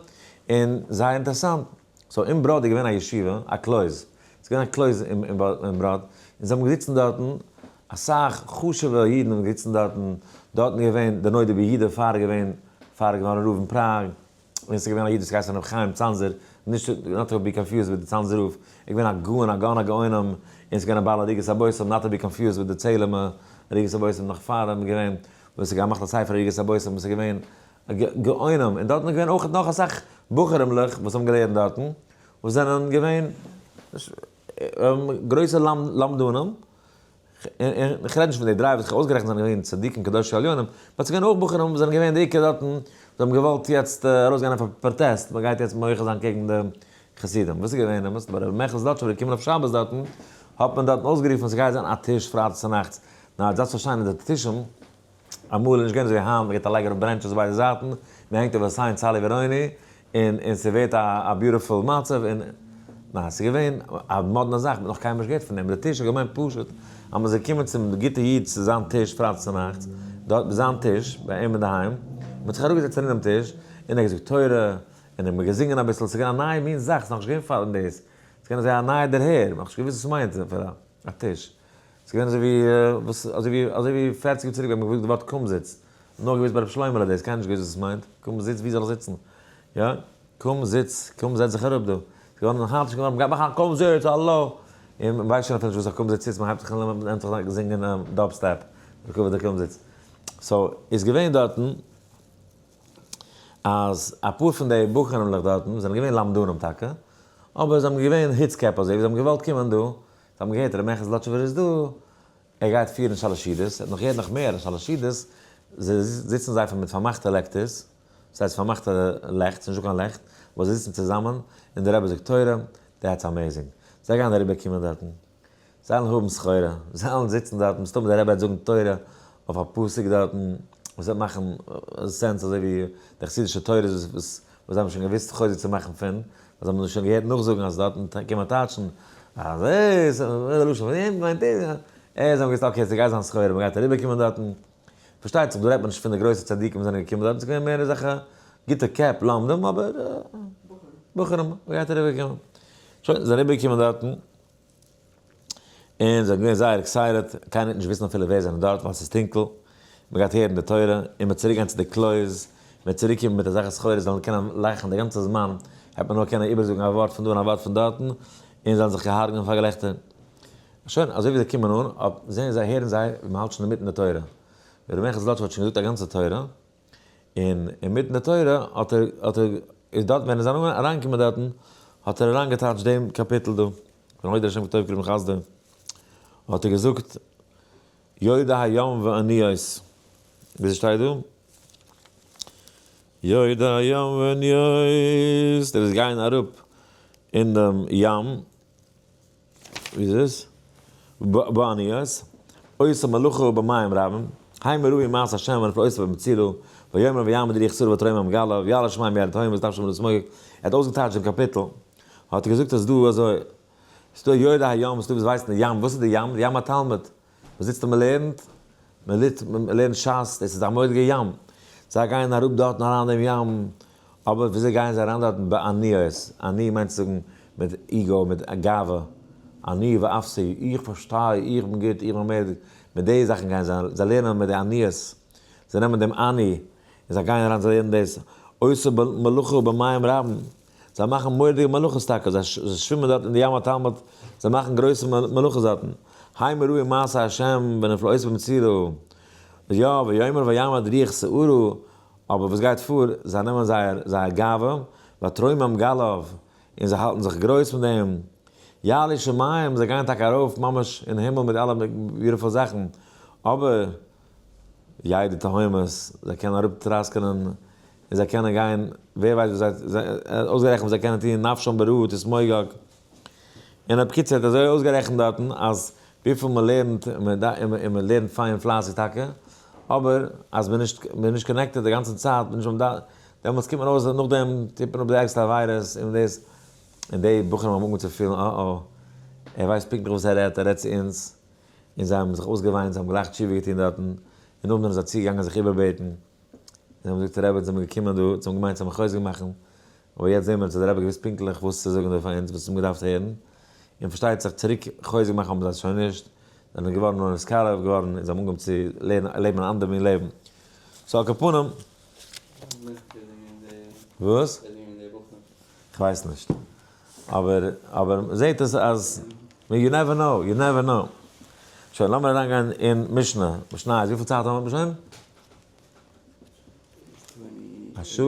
און זייער אינטערעסאנט. סאו אין בראד איז געווען א ישיבה, א קלויז, ס'איז געווען א קלויז אין בראד, און זיי האבן געזיצן דארטן, אסאך חשוב'ע אידן האבן געזיצן דארטן, דארטן איז געווען דער נודע ביהודה פאר געווען פאר געווארן רב אין פראג, און ס'איז געווען א איד וואס האט געהייסן הרב חיים צאנזער, נישט נאט טו בי קאנפיוזד וויט די צאנזער רב, ער איז געווען א גאון, א גאון הגאונים, און ס'איז געווען א בעל עריגת הבושם, נאט טו בי קאנפיוזד וויט די צעהלימע עריגת הבושם נאך פאר אים איז געווען. וואס האט געמאכט א ספר עריגת הבושם וואס איז געווען גאונים און דארטן איז געווען אויך נאך אסאך בחורים'לעך וואס האבן געלערנט דארטן וואס זענען געווען גרויסע למדנים און כ'רעד נישט פון די דריי וואס כ'האב אויסגערעכנט זענען געווען צדיקים קדושים עליונים באט ס'איז געווען אויך בחורים וואס זענען געווען די עיקר דארטן וואס האבן געוואלט יעצט ארויסגיין אויף א פראטעסט מ'גייט יעצט מוחה זיין קעגן די חסידים וואס איז געווען די מסיבה רבי מעכל זלאטשובער איז געקומען אויף שבת דארטן האט מען דארטן אויסגערופן ס'גייט זיין א טיש פרייטאג צונאכטס נאר דזאסט פאר שיינע די טישן, אמאל איז נישט געווען אזוי היינט, מ'געט א לייג אראפ ברענטשעס ביידע זייטן, מ'הענגט אויף א סיין צאלי וועראוני, און און ס'ווערט א א ביוטיפול מצב, און ניין ס'איז געווען א מאדנע זאך, מ'האט נאך קיינמאל נישט געהערט פון דעם, די טיש איז געווען פשוט, אז מ'איז געקומען צום גוטע איד צו זיין טיש פרייטאגס צו נאכטס, דארט ביי זיין טיש, ביי אים אינדערהיים, מ'האט זיך אראפגעזעצט ארינעם טיש, און ער האט געזאגט תורה, און ער האט געזינגען אביסל, ס'איז געווען א נייע מין זאך, ס'איז נאכנישט געווען פארן דאס, ס'איז געווען אזוי א נייע דערהער, מ'האט נישט געוואוסט וואס ס'מיינט, א טיש. ס'איז געווען אזויווי וואס אזויווי אזויווי פֿערציק יאר צוריק ווען מ'האט געוואוסט די ווארט קומזיץ, נאר געוואוסט ביי ר' שלוימעלע דאס, קיינער האט נישט געוואוסט וואס עס מיינט, קום זיץ, וואו זאל איך זיצן? יא, קום זיץ, קום זעץ זיך אראפ דא. ס'איז געווארן א חדש, געווארן מ'גייט מאכן א קום זיץ, האלא! און מ'ווייסט שוין אפילו נישט וואס א קום זיץ איז, מ'הייבט זיך אן און מ'נעמט זיך אן זינגען דאב סטעפ, וכו' די קום זיץ. סאו, איז געווען דארטן אז אפאר פון די בחורים'לעך דארטן זענען געווען למדנים טאקע, אבער זיי האבן געווען היץ קעפ אזויווי זיי האבן געוואלט קומען דא זיי האבן געהערט ר' מעכיל זלאטשובער איז דא, ער גייט פירן שאלעשידעס, ער האט נאך געהערט נאך מער אז שאלעשידעס זיצן זיי מיט פארמאכטע לעקטערס, דאס הייסט פארמאכטע לעכט, ס'נישט דא קיין לעכט, וואס זיי זיצן צוזאמען און דער רבי זאגט תורה, דעטס אמעזינג, זיי גייען אריבער קומען דארטן, זיי וועלן האבן סחורה, זיי וועלן זיצן דארטן, מסתמא דער רבי וועט זאגן תורה אויף א פסוק דארטן, וואס וועט מאכן סענס אזוי ווי די חסידישע תורות וואס. וואס זיי האבן שוין געוואוסט חוזק צו מאכן פון, וואס זיי האבן זיך שוין געהערט נאכזאגן אז דארטן קען מען טייטשן אז ער איז א לשון פון אים מיינט ער אז זיי האבן געוואוסט אקעי ס'גייט זיין סחורה מ'גייט אריבערקומען דארטן, פארשטייט זיך דא רעדט מען נישט פון די גרויסע צדיקים וואס זענען געקומען דארטן ס'געווען מער אזעלכע גוטע קעפ לומדים אבער בחורים מ'גייט אריבערקומען, שוין זיי זענען אריבערגעקומען דארטן, און זיי זענען געווען זייער עקסייטעד, קיינער וועט נישט וויסן אפילו ווער זענען דארט ווייל ס'איז טונקל, מ'גייט הערן די תורה, און מ'וועט צוריק גיין צו די קלויז, מ'וועט צוריק קומען מיט אזעלכע סחורה זיי וועלן קענען לאכן די גאנצע זמן, העט מען נאר קענען איבערזאגן א ווארט פון דא און א ווארט פון דארטן, און זיי וועלן זיך הרג'נען פאר געלעכטער. שוין, אזוי ווי זיי קומען אן, אויפ זעהן זיי הערן זיי ווי מ'האלט שוין אינמיטן די תורה, ווי ר' מעכיל זלאטשוב האט שוין געזאגט א גאנצע תורה, און אינמיטן די תורה האט ער האט ער איז דארט ווען ער איז ארום אריינגעקומען דארטן האט ער אריינגעטייטשט דעם קאפיטל דא פון הוי ד השם כטוב כרום חסדו האט ער געזאגט יודע הים ועניות ווי ס'שטייט דא יודע הים ועניות ער איז געגאנגען אראפ אין דעם ים. ווי איז עס? באניות, עושה מלאכה במים רבים, הוי מראי מעש השם ונפל עושה במצילו, ויאמר ויעמוד ריח סור ותרומה מגליו, ויעלה שמים ויעל תהום וזה תפשו מלא סמויג, ער האט אויסגעטייטשט דעם קאפיטל, האט ער געזאגט אז דא אזוי, ס'דא יודע הים, ס'דא וואס ווייסן די ים, וואס איז די ים? די ים א תלמיד. מען זיצט און מען לערנט, מען ליט מען לערנט שס, דאס איז א מורא'דיגע ים, זיי גייען אראפ דארטן אריין אין דעם ים, אבער וויאזוי גייען זיי אריין דארטן בעניות, אני מיינט צו זאגן מיט איגו, מיט גאווה, אני ואפסי, איך פארשטיי, איך בין גוט, איך בין מורא'דיג, מיט די זאכן גייען זיי, זיי לערנען מיט די עניות, זיי נעמען דעם אני און זיי גייען אריין זיי לערנען דאס, עושה מלאכה במים רבים, זיי מאכן מורא'דיגע מלאכות טאקע, זיי שווימען דארט אין די ים התלמוד, זיי מאכן גרויסע מלאכות דארטן, ה' מה ראה מעשה ה' ונפלאותיו במצרו, יא, ויאמר ויעמד ריח שעורו, אבער וואס גייט פאר, זיי נעמען זייער זייער גאווה, והתרומם גל אויף, און זיי האלטן זיך גרויס מיט דעם, יעלי שמים, זיי גייען טאקע ארויף ממש אין הימל מיט אלע ביוטיפול זאכן, אבער. יעדע תהומות, זיי קענען אראפ טראסקענען, און זיי קענען גיין, ווער ווייסט וואס זיי, אויסגערעכנט וואס זיי קענען טון נפשם ברעות את מוגג, און ע פ קיצור האט אזוי אויסגערעכנט דארטן אז וויפיל מען לערנט, און מען לערנט פיין און פלייסיג טאקע, אבער אז מען איז נישט קאנעקטעד די גאנצע צייט, מען איז נישט ביים ד, דעמאלטס קומט מען ארויס אז נאכדעם טוט מען אפ די ערגסטע עבירות און דאס, און די בחורים האבן אנגעהויבן צו פילן אה אה, ער ווייסט פונקטליך וואס ער רעדט, ער רעדט צו אונז, און זיי האבן זיך אויסגעוויינט, זיי האבן גלייך תשובה געטון דארטן, און נאכדעם זיי צוגעגאנגען זיך איבערבעטן, זיי האבן געזאגט רעבעצ זעמיר געקומען דא, זיי האבן געמיינט זיי האבן חוזק מאכן, אבער יעצט זעמיר צו דער רבי געוואוסט פונקטליך וואס צו זאגן דא פאר אונז, וואס אונז האבן געדארפט הערן, און פארשטייט זיך צוריק חוזק מאכן האבן זיי שוין נישט, זיי זענען געווארן נאר נתקרב געווארן, און זיי האבן אנגעהויבן צו לערנען לעבן אן אנדער מין לעבן. סאו על כל פנים. וואס? כ'ווייס נישט. אבער אבער מ'זעהט אז אז יו נעווער נאו יו נעווער נאו. שוין לאמיר אריין גיין אין משנה משניות וויפיל צייט האבן מיר שוין? א שעה?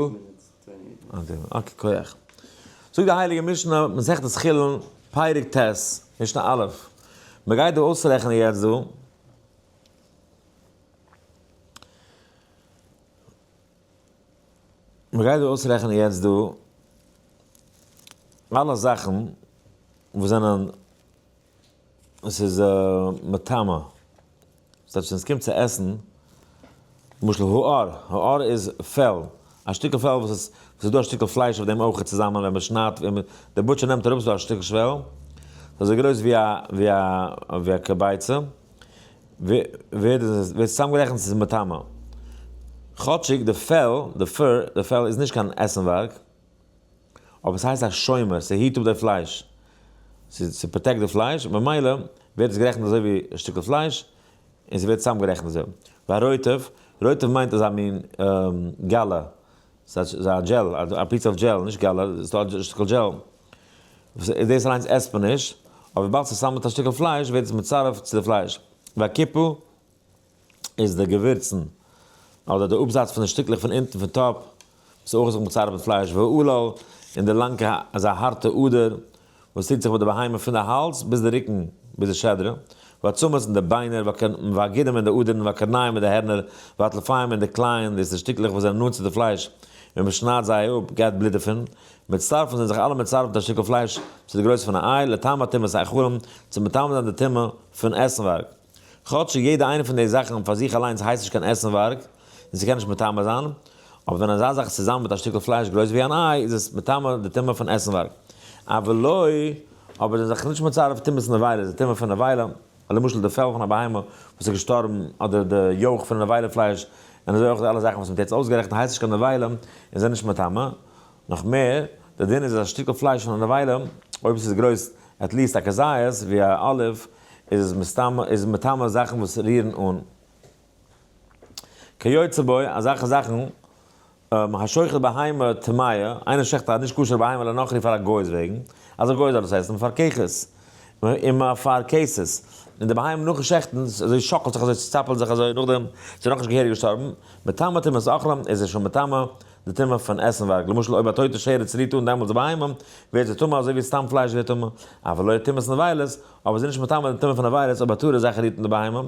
אקעי כח. זאגט די הייליגע משנה מסכת חולין פרק ט' משנה א' מ'גייט דא אויסרעכענען יעצט דא. מען גייט דא אויסרעכענען יעצט דא אלע זאכן וואס זענען וואס איז מטמא, ס'הייסט ווען ס'קומט צו עסן, למשל האר, האר איז פעל, א שטיקל פעל וואס איז ס'איז דא א שטיקל פלייש אויף דעם אויך צוזאמען ווען מען שניידט ווען מען דער בוטשער נעמט אראפ ס'איז דא א שטיקל שוועל אזוי גרויס ווי א ווי א ווי א כביצה. ווערט צוזאמגערעכנט צו מטמא. כאטשיג די פעל, די פור, די פעל איז נישט קיין עסנווארג, אבער עס הייסט א שומר, ס'היט אפ די פלייש, ס'פראטעקט די פלייש, ממילא ווערט עס גערעכנט אזוי ווי א שטיקל פלייש, און ס'ווערט צוזאמגערעכנט אזוי. והרוטב, רוטב מיינט אזא מין גאלע, ס'איז א דזשעל, א פיס אוו דזשעל, נישט געלע, ס'איז דא א שטיקל דזשעל, וואס איז דאס אליינס עסט מען נישט, אבער וויבאלד ס'איז צוזאמען מיט א שטיקל פלייש ווערט עס מצרף צו די פלייש, והקיפו איז די געווירצן, אדער די אפזאץ פון די שטיקלעך פון אונטן פון טאפ, וואס איז אויך זיך מצרף מיט פלייש, והעלול און די לאנקע איז א הארטע אדער, וואס טוט זיך מיט די בהמה פון די האלז ביז די רוקן ביז די שדרה, ועצמות און די ביינער, והגידים און די אדערן, והקרניים און די הערנער, והטלפיים און די קלייען, דאס איז שטיקלעך וואס זענען נאנט צו די פלייש, ווען מען שניידט זיי אפ גייט בלוט דערפון, מצטרפין זענען זיך אלע מצרף מיט א שטיקל פלייש צו די גרויס פון א איי, לטעם הטומאת האיכרים, צו מטמא זיין די טומאה פון עסנווארג. כאטש יעדע איינע פון די זאכן פאר זיך אליינס הייסט נישט קיין עסנווארג און ס'קען נישט מטמא זיין, אבער ווען אזא זאך איז צוזאמען מיט א שטיקל פלייש גרויס ווי אן איי איז עס מטמא די טומאה פון עסנווארג. אבל לא, אבער זיין זיך נישט מצרף טומאת נבילה איז די טומאה פון נבילה, למשל די פעל פון א בהמה וואס איז געשטארבן אדער די יאוך פון די נבילה פלייש און אזוי אויך די אלע זאכן וואס מ'האט יעצט אויסגערעכנט הייסט נישט קיין נבילה און זענען נישט מטמא, נאך מער, דער דין איז אז א שטיקל פלייש פון א נבילה, אויב עס איז גרויס עט ליעסט א כזית, ווי א אליוו, איז עס מסתם, איז מטמא זאכן וואס רירן אן. כיוצא בו, אזעלכע זאכן, השוחט בהמה טמאה, איינער שעכט א נישט כשר'ע בהמה לנוכרי פאר א גוי'ס וועגן, אזא גוי זאל עס עסן, פאר ככס. און מע פֿאַרקעסט עס. און די בהמה נאָכן שעכטן, אַזױ שאָקלט זיך, אַזױ צעצאַפּלט זיך, אַזױ נאָכדעם ס'איז נאָך נישט געהעריק געשטאָרבן, מטמא טומאת אכלה, איז ער שױן מטמא די טומאה פֿון עסנװאַרג. למשל, אױב אַ טױטע שערע צערירט אָן דעמאָלט די בהמה, װערט זי טמא אַזױ װי סתּם פֿלײש װערט טמא, אַף עלױ טומאת נבֿלות, אָבער זי איז נישט מטמא די טומאה פֿון נבֿלות אױב אַ טהורע זאַך רירט אָן די בהמה,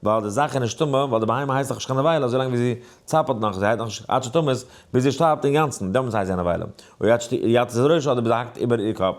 װײַל די זאַך איז נישט טמא, װײַל די בהמה הײסט נאָך נישט קײן נבֿלה אַזױ לאַנג װי זי צאַפּלט נאָך, זי הײט נאָך נישט עד שתמות, ביז זי שטאַרבט אינגאַנצן, דעמאָלט הײסט זי אַ נבֿלה. אױב עד שתּ יצא זרעו אָדער ביז ער האַקט איבער איר קאָפּ.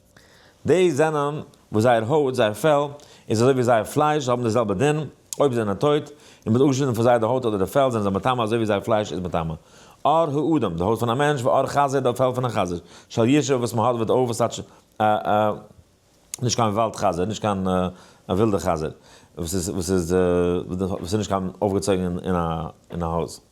די זענען וואס זייער הויט, זייער פעל, איז אזוי ווי זייער פלייש, זיי האבן די זעלבע דין, אויב זיי זענען טויט, און מ'האט אפגעשניטן פון זיי די הויט אדער די פעל, זענען זיי מטמא אזוי ווי זייער פלייש איז מטמא. עור האדם, די הויט פון א מענטש, ועור חזיר, די פעל פון א חזיר, של ישוב, וואס מ'האט וד א, וואס טייטש א א, נישט קיין וואלד חזיר, נישט קיין א ווילדע חזיר, וואס איז וואס איז וואס איז נישט קיין אויפגעצויגן אין א אין א הויז.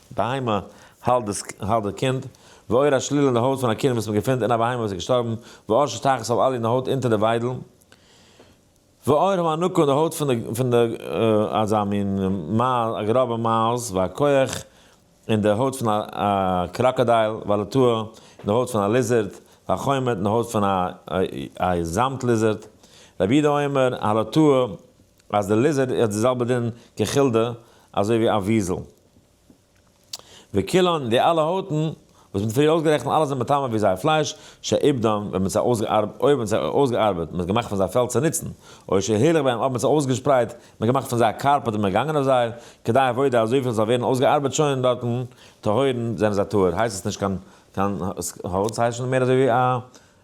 בהמה, האלט די קינד, ואור השלילה אין די הויט פון א קינד וואס מען געפינט אין א בהמה וואס איז געשטארבן, ואור שתחת סל אלי אין די הויט אונטער די וויידל, ואור המענוקא אין די הויט פון די אזא מין מייז, א גראבע מייז, והקוח אין די הויט פון א קראקאדייל, והלטוה אין די הויט פון א ליזערד, והחומת אין די הויט פון א זאמד ליזערד. רבי יהודה אומר, הלטוה, אז די ליזערד האט די זעלבע דין כחילדה אזוי ווי א וויזל. וקילון, די אלע הויטן וואס מ'האט פריער אויסגערעכנט, אלע זענען מטמא ווי זייער פלייש, שעיבדם, ווען מ'האט זיי אויסגעארבעט, אויב מ'האט זיי אויסגעארבעט, מ'האט געמאכט פון זיי פעלד צו נוצן, אוי שעהילך בהם, אויב מ'האט זיי אויסגעשפרייט, מ'האט געמאכט פון זיי א קארפעט און מ'איז געגאנגען אויף זיי, כדי עבודה אזויפיל ס'זאל ווערן אויסגעארבעט שוין דארטן, טהורין, זענען זיי טהור, הייסט עס נישט קיין קיין הויט, ס'הייסט שוין מער אזוי ווי א.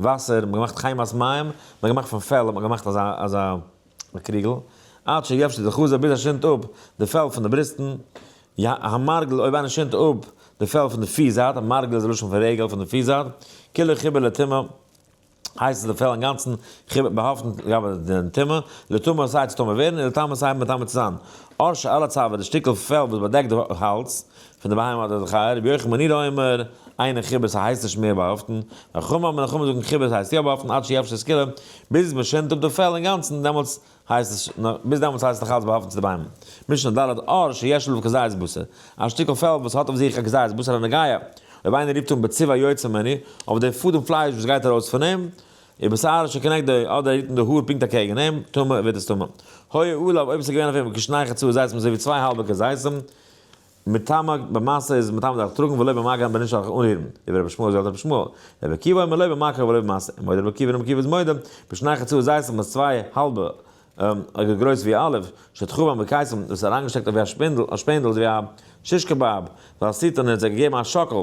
וואסער, מ'האט געמאכט חיימאס מים, מ'האט געמאכט פון פעל האט מען געמאכט אזא אזא קריגל, עד שיבשה די חזה ביז עס שינדט אפ די פעל פון די בריסטן, י ה המרגל אויב איינער שינדט אפ די פעל פון די פיס זייט, מרגל איז די לשון פון רגל פון די פיס זייט, כולו חיבור לטומאה, הייסט אז די פעל אינגאנצן חיבור באהאפטן לגבי די טומאה, לטומאה סיי צו טמא ווערן און לטמא סיי מטמא צו זיין, אויך שאלה צב די שטיקל פעל וואס באדעקט די האלז, פון די ביימער האט ער זיך א רבי יוחנן בן עירא אומר, איינער חיבה ס'הייסט נישט מער באהאפטן, ווען חמא אמר נחמה זאגן חיבה ס'הייסט יא באהאפטן עד שיבשה סקילה, ביז מ'שינדט אפ די פעל אינגאנצן דעמאלטס הייסט עס ביז דעמאלטס הייסט עס נאכאלץ באהאפטן צו די ביימער. משנה ד' אור שיש לו כזית בשר, א שטיקל פעל וואס האט אויף זיך א כזית בשר א נגיעה, אויב איינער רופט אן בצבע היוצא ממני, אויף די פאדעם פלייש וואס גייט ארויס פון אים, ובשער שכנגדו, אדער רופט אן די האר פונקט אקעגן אים, טמא, ווערט עס טמא. הוי עליו, אויב עס איז געווען אויף אים כשני חצאי זיתים אזוי ווי צוויי האלבע כזיתים, מטעמא במעשה איז מטעמא דארף טראגן ולא במגע מ'בענטשט דארף איך אנרירן, איבער רבי שמואל זאגט רבי שמואל, רבי עקיבא אומר לא במכה ולא במעשה, מודה רבי עקיבא און רבי עקיבא איז מודה, בשני חצאות זייט זיך מיט צוויי האלבע אגער גרויס ווי א אלף, שתחו בם בקיצם, דאס אריינגעשטעקט אויף ווי א שפינדל, א שפענדל איז ווי א שישקע באב, ועשית און ער האט זיי געגעבן א שאקל,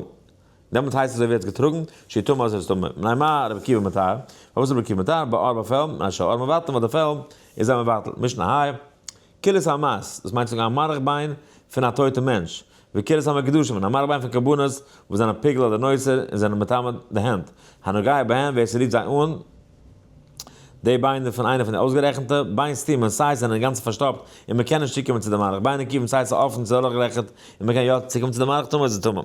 דעמאלט הייסט עס אזוי ווי ער האט געטראגן, שהיא טמאה אזוי איז עס טמא, מנין מה רבי עקיבא מטהר, פארוואס איז רבי עקיבא מטהר, באר באפעל, מנין שהאור מבטל וואס די פעל איז זיי מבטל, משנהאי, כלית המת, דאס מיינט צו זאגן א מארך ביין פון א טויטע מענטש, וכלית המקדשים, און א מארך ביין פון קרבנות וואס זענען פיגל אדער נוצר און זענען מטמא די הענט, הנוגע בהם, ווער ס'רירט זיי אן, די ביינער פון איינע פון די אויסגערעכנטע, ביין סתומים, סיי ס'זענען אינגאנצן פארשטאפט און מ'קען נישט צוקומען צו די מארך, ביין נקיבים, סיי ס'איז אפן צו דורכגעלעכערט און מ'קען יא צוקומען צו די מארך, טמא איז עס טמא.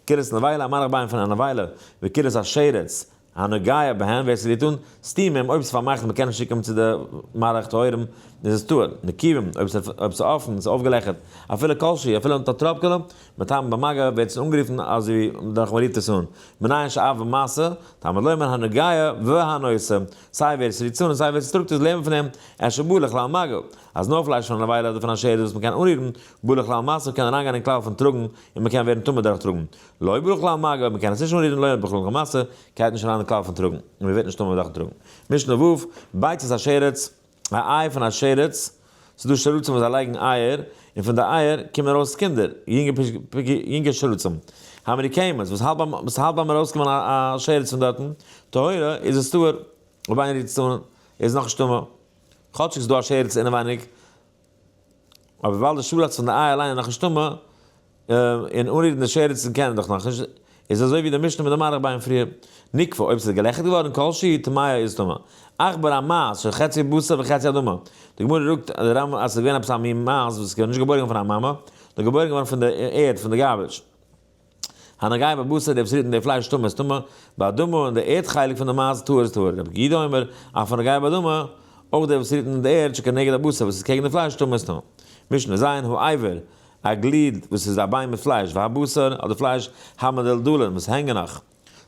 כלית נבילה, א מארך ביין פון א נבילה, וכלית השרץ, הנוגע בהם, ווער ס'וויל טון, סתימה אים, אויב ס'איז פארמאכט און מ'קען נישט צוקומען צו די מערכת ההורים, איז עס טהור, נקיבים, אויב ס'איז אפן און ס'איז אויפגעלעכערט, אפילו כל שהיא, אפילו אן טאטראפקעלע, מטעם במגע, ווערט עס אנגערופן אזוי דורך מ'רופט עס אן, מנין שאב ומעשה, תלמוד לומר הנוגע והנושא, סיי ווער ס'רופט עס אן און סיי ווער ס'טראגט עס לערנט פון אים, אפשר בא לכלל מגע, אז נאר פלייש פון א נבילה אדער פון א שערדל וואס מ'קען אנרירן, בא לכלל מעשה, קען אריינגיין אין כלל פון טראגן, און מ'קען ווערן טמא דורך טראגן, לוי' בכלל מאגע אויב מ'קען עס נישט אנרירן לוי' אויב בכלל למעשה קייט נישט אריין אין כלל פון טראגן און מ'ווערט נישט טמא אויב דארפן טראגן. משנה ו', ביצת השרץ, א איי פון א שרץ, ס'איז דא שרצים וואס זיי לייגן אייער און פון די אייער קומען ארויס קינדער, יונגע שרצים, האמרי קיימות, וואס האלט ביים ארויסקומען א שרץ פון דארטן, טהרה, איז עס טהור, אויב איינער רירט עס אן איז עס נאכנישט טמא, כאטשיג ס'איז דא א שרץ אינעווייניג אבער ווייל די שאלה האט זיך אין די איי אליין נאכנישט טעמא, און אנרירן די שעריצן קען ער דאך נאכנישט, איז אזוי ווי די משנה מיט די מאריך ביין פריער. נקבע, אויב ס'איז געלעכערט געווארן כל שהיא טמאה איז טמאה. עכ ב ר מ אז של חצי בשר וחצי אדמה. די גמרא זאגט אז די רמ א אז ס'איז געווען עפעס א מין מייז וואס איז געווארן נישט געבוירן געווארן פון א מאמע, נאר געבוירן געווארן פון די ערד, פון די גארבעדזש. הנוגעים בבשר דער בשרית און דער פלייש טמא איז טמא, באדמה און דער ערד חלק פון דער מייז טהור איז טהור, רבי גידא אומר, אף הנוגע באדמה, אויך דער בשרית און די ערד שכנגד הבשר וואס איז קעגן די פלייש טמא איז טמא. משנה ז, האיבר, א גליד וואס איז א ביין מיט פלייש, והבשר, אדער פלייש, המדלדלין, וואס הענגען נאך.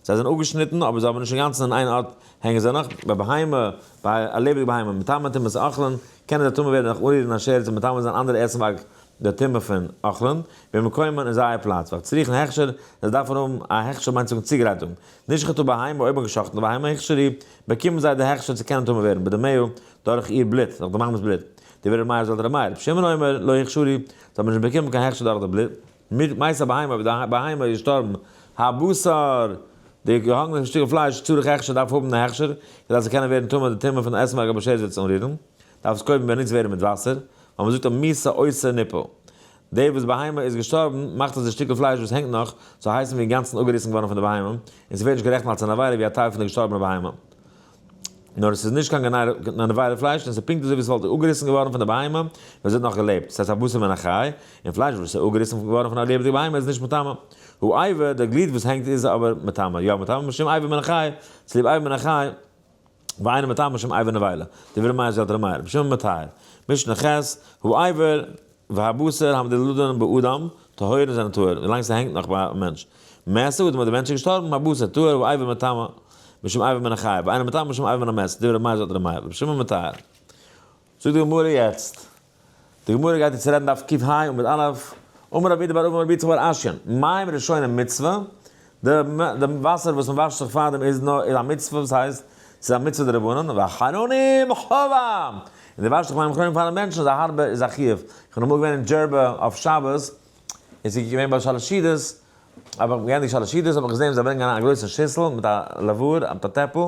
זיי זענען אפגעשניטן, אבער זיי האבן נישט אינגאנצן אין איין ארט הענגען זיי נאך, ביי בהמה, ביי א לעבעדיגע בהמה, מטמא א טומאת אכלן, קענען זיי טמא ווערן דורך אנרירן א שער צו מטמא זיין אנדערע עסנווארג די טומאה פון אכלן, במקומם אין זייער פלאץ, ווייל צריכן הכשר, זיי דארפן האבן א הכשר מיינט צוואונג צוגרייטונג, נשחטו בהמה אויב מ'גע'שחט'ן א בהמה הכשרי, באקומען זיי די הכשר צו קענען טמא ווערן בדמיה דורך איר בלוט, דורך די בהמה'ס בלוט, דברי ר' מאיר זל ר' מאיר, ר' שמעון אומר, לא הכשרי, זיי האבן נישט באקומען קיין הכשר דורך די בלוט. מיט מות הבהמה, ווען די בהמה איז געשטארבן, הבשר, די געהאנגענע שטיקל פלייש, צריך הכשר, דארף האבן א הכשר, כדי אז ס'זאל קענען ווערן טמא, די טעמע פון עסן מ'מעג אבער שערזיץ אנרירן, דארף עס קודם באנוצט ווערן מיט וואסער, ווייל מ'זאגט א מי שעושה ניפו, דער וואס בהמה איז געשטארבן, מאכט אז די שטיקל פלייש וואס הענגט נאך, זאל הייסן ווי אינגאנצן אפגעריסן געווארן פון די בהמה, און ס'ווערט נישט גערעכנט אלס אן עבירה ווי א טייל פון די געשטארבענע בהמה. נאר עס איז נישט קיין גענארעווארע פלייש און עס איז פונקט אזוי ווי עס וואלט אפגעריסן געווארן פון די בהמה ווען זי האט נאך געלעבט, דאס הייסט א בשר מן החי, און פלייש וואס איז אפגעריסן געווארן פון א לעבעדיגע בהמה איז נישט מטמא. הוא איבר, דער גליד וואס הענגט איז אבער מטמא, יא מטמא משום איבר מן החי, צוליב איבר מן החי, ואינו מטמא משום איבר נבילה, דברי מייז אלתר מייער, בשם המטהר, משנה ח', הוא איבר, והבשר המדלדלין באדם, טהורים זענען טהור ווילאנג ס'הענגט נאך ביי א מענטש. מעשה, אדם האט דער מענטש איז געשטארבן, הבשר טהור ואיבר מטמא משום איבר מן החי, ואינו מטמא משום איבר מן המת, דברי מייז אדער מאיר, רבי שמעון מטהר. זאגט די גמרא יעצט. די גמרא גייט יעצט רעדן דף קפ ה עמוד א', אמר רבי דבר אבן רבי יצחק בר אשי, מים ראשונים מצוה, די וואסער וואס מען וואשט זיך פאר דעם איז נאר איז א מצוה וואס הייסט ס'איז א מצוה דרבנן ואחרונים חובה און די וואשט זיך ביים אחרונים פארן מענטשן איז א הארבע איז א חיוב איך בין אמאל געווען אין דזשערבע אויף שבת איז איך געווען ביי שאלעשידעס האב איך גענדיגט שאלעשידעס האב איך געזען ווי זיי ברענגען אריין א גרויסע שיסל מיט א לעוואר א טאטעפל.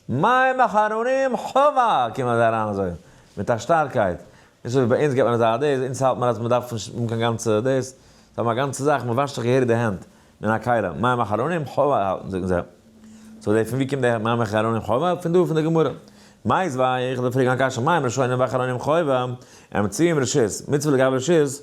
מים אחרונים חובה! קומען זיי אריין אזוי מיט א שטארקייט, נישט אזוי ווי ביי אונז געט מען אזא א דעיס, אונז האלט מען אז מ'דארף נישט האבן קיין גאנצע דעיס, זיי האבן א גאנצע זאך, מ'וואשט זיך געהעריג די הענט מן הכלים, מים אחרונים חובה האלטן זאגן זיי. סאו די פון ווי קומט די מים אחרונים חובה? פון דא פון די גמרא. מאיז וויי, איך וויל פרעגן א קשיא, מים ראשונים ואחרונים חובה, אמצעים רשות, מצוה לגבי רשות,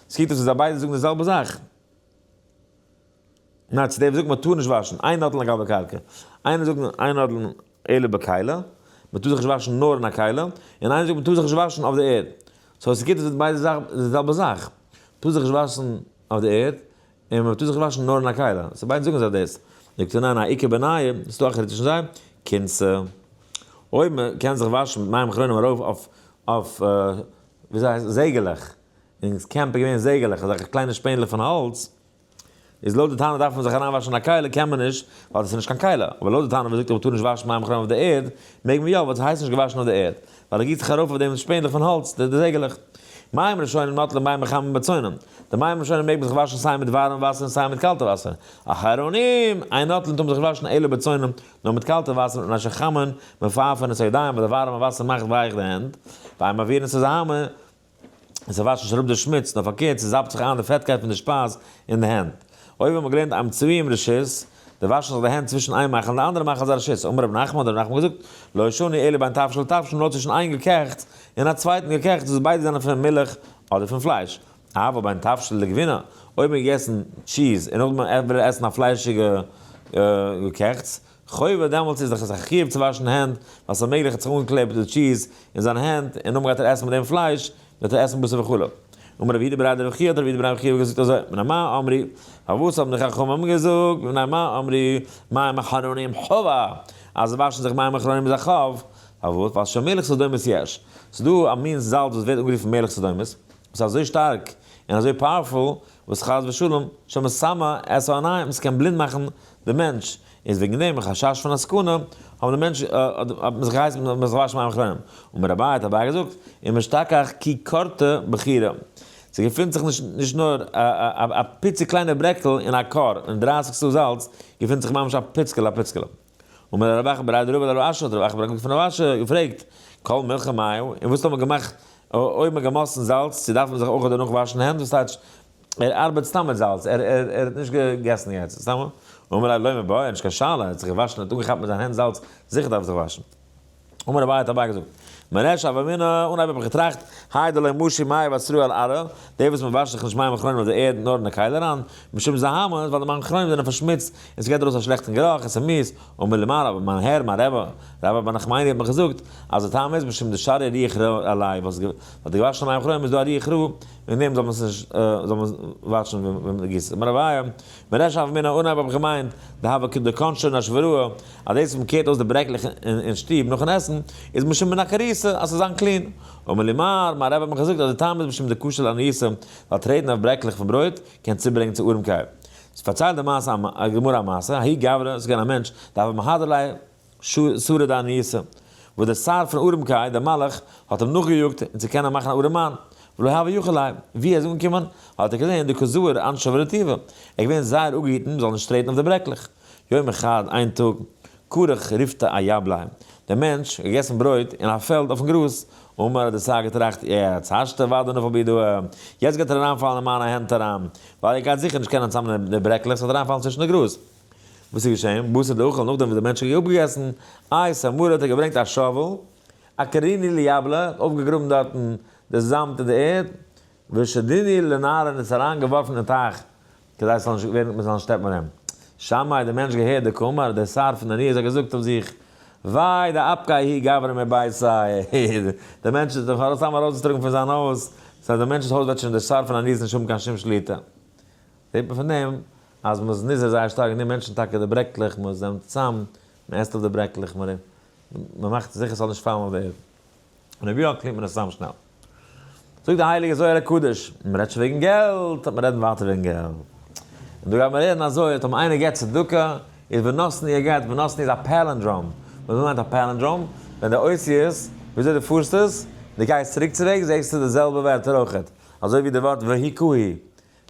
ס'קוקט אויס ווי זיי ביידע זאגן די זעלבע זאך. ניין, צו די וואס זאגן מ'טאר נישט וואשן איין נאדל אין א גאלבע קארקע, איינער זאגט איין נאדל אין עלה בכלה, מ'טאר זיך נישט וואשן נאר אין א כלה, און איינער זאגט מ'טאר זיך נישט וואשן אויף די ערד. סאו ס'קוקט אויס ווי ביידע זאגן די זעלבע זאך. מ'טאר זיך נישט וואשן אויף די ערד, און מ'טאר זיך וואשן נאר אין א כלה. סאו ביידע זאגן זיי דאס. זאגט ער ניין, א עיקר בעניי, ס'איז דא א חילוק צווישן זיי, קינצע. אויב מ'קען זיך וואשן מיט מים אחרונים ארויף אויף אויף וויאזוי הייסט עס זעגעלעך. און דאס קעמפ איז געווען זעגעלעך אזעלכע קליינע שפענדלעך פון האלץ, איז לויט די טענה דארף מען זיך אריינוואשן אין א קעלער קען מען נישט ווייל דאס איז נישט קיין קעלער, אבער לויט די טענה וואס זאגט אז מ'טאר נישט וואשן מים חמם אויף די ערד, מעג מען יא, וואס הייסט נישט געוואשן אויף די ערד? ווייל ער גיסט זיך ארויף אויף דעם שפענדלעך פון האלץ, די זעגעלעך. מים ראשונים נוטלים מים חמים בצונם, די מים ראשונים מעג מען זיך וואשן סיי מיט ווארעם וואסער און סיי מיט קאלטע וואסער, אחרונים אין נוטלים טאר מען זיך וואשן אלא בצונם, נאר מיט קאלטע וואסער און אשר חממ'ן מפייפען את הידיים ווייל די ווארעמע וואסער מאכט ווייך די הענט, ואם מעבירין את הזהמה און ס'וואשט נישט אראפ די שמוץ, נאר פארקערט ס'זאפט זיך איין די פעטקייט פון די שפייז אין די הענט. אויב האט מען געלערנט איים צבי אום רשות, די וואשן זיך די הענט צווישן איין מאכל און די אנדערע מאכל איז א רשות. אמר רבי נחמן האט רבי נחמן געזאגט, לא ישני אלא בין תבשיל לתבשיל נאר צווישן איין געקעכטס און א צווייטן געקעכטס וואס ביידע זענען פון מילך אדער פון פלייש. אבער בין תבשיל לגבינה, אויב האט מען געגעסן טשיז און נאכדעם וויל ער עסן א פליישיגע געקעכטס, חובה דעמאלטס איז דאך זיך חיוב צו וואשן הענט, ווייל ס'איז מעגליך ער האט זיך אנגעקלעבט די טשיז אין זיין הענט, און נאכדעם גייט ער עסן פון דעם פלייש, וועט ער עסן בשר וכו'. אמר רבי יהודה בראדער וכו' האט רבי יהודה בראדער וכו' געזאגט אזוי, בני מה אמרי, פארוואס האבן די חכמים געזאגט, בני מה אמרי, מים אחרונים חובה, אז וואשן זיך מים אחרונים איז א חוב, פארוואס, ווייל שם מלך סדומית יש, ס'איז דא א מין זאלץ וואס ווערט אנגערופן מלך סדומית, וואס איז אזוי שטארק און אזוי פאוערפול, וואס חס ושלום, שמא סאמע עס אן עין, עס קען בלינד מאכן די מענטש, איז וועגן דעם חשש פון א סכנה, האבן די מענטש, האט מען זיך געהייסן מען זאל זיך וואשן מים אחרונים, אמר אביי, האט אביי געזאגט, אם אשתכח כי קרתה בחירה, ס'געפינט זיך נישט נישט נאר א פיצי קליינע ברעקל אין א קאר, און דרייסיג סא זאלץ, געפינט זיך ממש א פיצקעלע א פיצקעלע. אמר רבי אחא ברי דרבה לרב אשי, האט רבי אחא ברי דרבה פון רב אשי געפרעגט, כל מלחה מאיהו, און וואס טאר מען געמאכט, אויב מען געמאסטן זאלץ, צו דארף מען זיך אויך דערנאך וואשן הענט, וואס טייטש, ער ארבעט סתם מיט זאלץ, ער האט נישט געגעסן יעצט, סתם א אמר רב לא מבער, נישט קיין שאלה, ער האט זיך געוואשן, ער האט אנגעכאפט מיט זיין הענט זאלץ, זיכער דארף ער זיך וואשן. אמר אביי האט אביי געזאגט, מרעש הוה אמינא, אנהייב האב איך געטראכט, היי דלא משיב מים ואסרו על ערא, די וואס מען וואשט זיך נישט מים אחרונים אויף די ערד נאר אין די קייל אריין, משום זהמה, ווייל די מים אחרונים זענען פארשמוצט, און ס'געט ארויס א שלעכטן גערוך, עס איז מיס, אמר לי מר אבא, מיין הער, מיין רבי, רבי אבא נחמני האט מיר געזאגט, אז די טעם איז, משום די שרי ריח רע עליי, ווייל די געוואשענע מים אחרונים איז דא א ריח רע, און דעם זאל מען נישט זאל מען וואטשן ווען מען גיסט עס. מרביה, מרשב א מן האנהייב האב איך געמיינט די הוה ק דקאנשער נאשווראא אז דאס וואס מען קערט אויס די ברעקלעך אין שטוב נאכן עסן איז משום מן הכריסה אז ס'זאל זיין קלין. אמר לי מר. מיין רבי האט מיך געזאגט אז די טעם איז משום די קושיא לעניית עם ווייל טרעטן אויף ברעקלעך פון ברויט קען צוברענגען צו ארעמקייט. ס'פארציילט די מעשה א גמרא מעשה, האי גברא, ס'איז געווען א מענטש די הוה מהדר ליה, שרה די עניות'ע, וואס דער שר פון ארם קאי, דער מלך, האט אים נאכגעיאגט, און צו קענען מאכן א ארם מאן, ולא הוה יכול ליה, ווי ער איז אנגעקומען, האט ער געזען די כזור אנ ש אויף רטיבה, ער איז געווען זייער אפגעהיטן זאל נישט טרעטן אויף די ברעקלעך. יום אחד, איין טאג, כרך ריפתא א יבלאי, דער מענטש, האט געגעסן ברויט, אין א פעלד, אויפן גראז, אמר, האט דער שר געטראכט, יעצט, השתא ועדה נפל בידו, יעצט גייט ער אריינפאלן אין מיינע הענט אריין, ווייל ער גייט זיכער נישט קענען צוזאמנעמען די ברעקלעך, ס'וועט אריינפאלן צווישן די גראז. וואס איז געשען? בשר דאכל נאכדעם וואס דער מענטש האט אויפגעגעסן איי סאמארע האט ער געברענגט א שאוועל, א קריני ליבלע, האט אויפגעגראבן דארטן די זאמד אין די ערד, ושדיני לנהר און עס אריין געווארפן אין טייך כדי עס זאל נישט ווערן מען זאל נישט שטעפן ארום. שמאי דער מענטש געהערט די קאמאר די שר פון דניאל זיך געזאגט אויף זיך וויי די אפקאי היא גברא מביתו דער מענטש איז דאך ארויס סתם ארויסגעטראגן פון זיין הויז, סא דער מענטש'ס הויז וועט שוין דער שר פון דניאל נישט האבן קיין שום שליטה. זעט מען פון דעם אז מען איז נזהר זייער שטארק די מענטשן טאקע די ברעקלעך מען זעמט צאם מען עסט אויף די ברעקלעך מען מען מאכט זיכער ס'זאל נישט פאלן אויף די ערד און אויב יא קלינט מען עס צאם שנעל זאגט די הייליגע זוהר הקדוש מען רעדט שוין וועגן געלט לאמיר רעדן ווייטער וועגן געלט און דא גייט מען רעדן אזוי אט אויב איינער געבט צדקה איז ונתני ער געבט ונתני איז א פעלינדראם וואס מיינט א פעלינדראם ווען די אותיות וויאזוי די פארסט עס די גייסט צוריק צו וועגס זעסטו די זעלבע ווערטער אויכעט אזוי ווי די ווארט והי' כהי'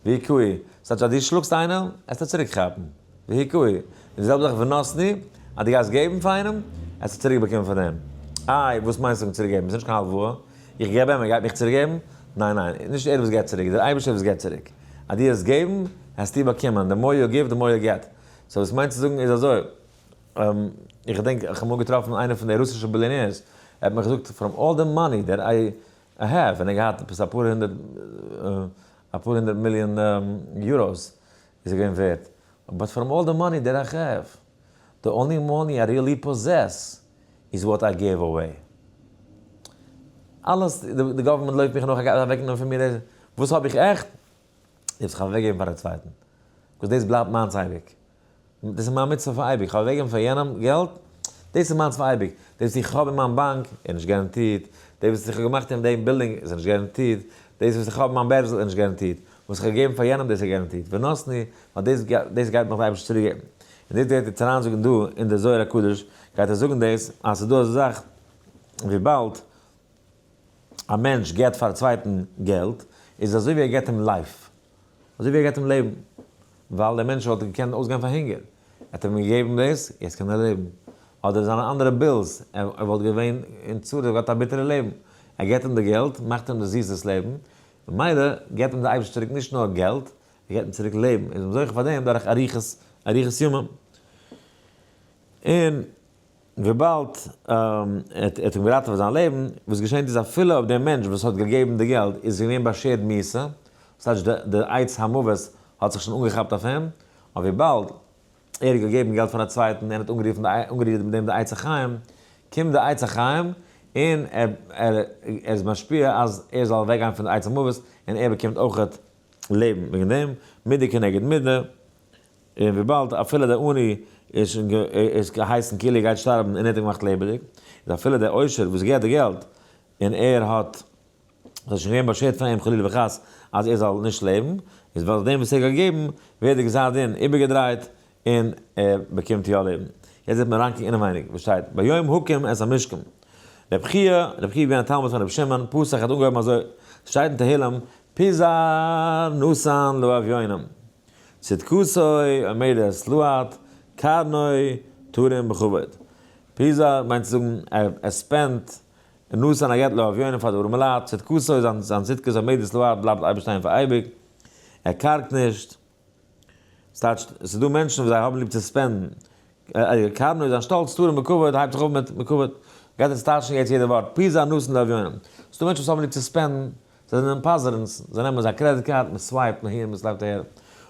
והיכוהי, ס'טייטש אז דו שלאגסט איינעם, עסטו צוריק כאפן. והיכוהי, און די זעלבע זאך ונתני, אז דו גייסט געבן פאר איינעם, עסטו צוריק באקומען פון אים. איי, וואס מיינסטו מיט צוריק געבן? ס'נישט קיין הלוואה. איך געב אים, ער גייט מיך צוריק געבן? ניין ניין, נישט ער וואס געבט צוריק, דער אייבערשטער וואס געבט צוריק. אז דו העסט געבן, העסטו באקומען. די מאר יו גיוו, די מאר יו געט. סאו וואס מיינסטו זאגן איז אזוי, איך געדענק איך האב אמאל געטראפן איינער פון די רוסישע ביליאנעירס, ער האט מיך געזאגט, פראם אלל די מאני דעט איי ע ה ווען ער געהאט עפעס אפאר הונדערט אפאר הונדערט מיליאן יוראס איז ער געווען ווערט, באט פארם אלל די מאני דער איך העוו, די אנלי מאני איי ריעלי פאזעס איז וואט איי גיוו אוועי. אלעס די גאווערמענט לויפט מיך נאך אוועקנעמען פון מיר וואס האב איך עכט? איך האב זיך אוועקגעגעבן פאר א צווייטן, ביקאוז דאס בלייבט מיינס אייביג, דאס איז מיין מצוה פאר אייביג, איך האב אוועקגעגעבן פאר יענעם געלט, דאס איז מיינס פאר אייביג, דאס וואס איך האב אין מיין באנק איז נישט געראנטירט, דאס וואס איך האב געמאכט אין דעם בילדינג איז נישט געראנטירט, דאס וואס איך האב אין מיין בערזל איז נישט געראנטירט, וואס איך האב געגעבן פאר יענעם דאס איז געראנטירט, ונתני, ווייל דאס דאס גייט נאך די אייבערשטער צוריקגעבן, און דאס גייט יעצט אריין זאגן דא אין די זוהר הקדוש, גייט ער זאגן דאס אז ס'איז דא אזא זאך וויבאלד. א מענטש געבט פאר א צווייטן געלט איז אזוי ווי ער געבט אים לייף, אזוי ווי ער געבט אים לעבן, ווייל דער מענטש וואלט געקענט אויסגיין פאר הונגער, האט ער אים געגעבן דאס, יעצט קען ער לעבן, אדער זיינע אנדערע בילס, ער וואלט געווען אין צרה, ער האט א ביטערע לעבן, ער געבט אים די געלט, מאכט אים די זיסע לעבן, ממילא געבט אים דער אייבערשטער צוריק נישט נאר געלט, ער געבט אים צוריק לעבן, איז מען זוכה פאר דעם דורך אריכות ימים. און. וויבאלד ער האט אים געראטעוועט זיין לעבן, וואס געשענט איז אפילו אויב דער מענטש וואס האט געגעבן די געלט איז געווען באשערט מיתה, וואס טייטש די עצת המוות האט זיך שוין אנגעכאפט אויף אים, אבער וויבאלד ער האט געגעבן געלט פאר א צווייטן און האט אנגערופן אנגערירט מיט דעם די עצת החיים, קומט די עצת החיים און ער איז משפיע אז ער זאל אוועקגיין פון די עצת המוות און ער באקומט אויך לעבן וועגן דעם, מידה כנגד מידה. און וויבאלד אפילו דער עני איז שוין גע איז געהייסן כאילו ער גייט שטארבן און ער האט אים געמאכט לעבעדיג, איז אפילו דער עושר וואס געהט די געלט און ער האט ס'איז שוין געווען באשערט פאר אים חלילה וחס אז ער זאל נישט לעבן, איז ווייל דעם וואס ער האט געגעבן ווערט די גזר דין איבערגעדרייט און ער באקומט יא לעבן. יעצט וועט מען אריינקוקן אינעווייניג וואס שטייט ביום הוקם את המשכן. רבי חייא, רבי חייא איז געווען א תלמיד פון רבי שמעון, פסח האט אנגעהויבן אזוי, ס'שטייט אין תהלים, פי ז, נשאן לאביונים. צדקתו עומדת לוהט קרנו תרים בכבוד. פיזא מיינט צו זאגן ער ספענדט און נתן הגעת לאביונים פאר די ארעמע לייט, צדקתו איז זיין זיין צדקת עומדת לוהט בלייבט אייביג שטיין פאר אייביג, ער קארגט נישט. ס'טייטשט, ס'דא מענטשן וואס זיי האבן ליב צו ספענדן, אייער קארנא איז א שטאלץ טהור און מקובד, הייבט זיך אויף מיט מקובד, גייט אונז טייטשן יעצט יעדע ווארט, פי זיי נאסן די אביונים, ס'איז דא מענטשן וואס האבן ליב צו ספענדן, זיי זענען פאזערנס, זיי נעמען זייער קרעדיט קארד, מען סווייפט אהין, מען סווייפט אהער,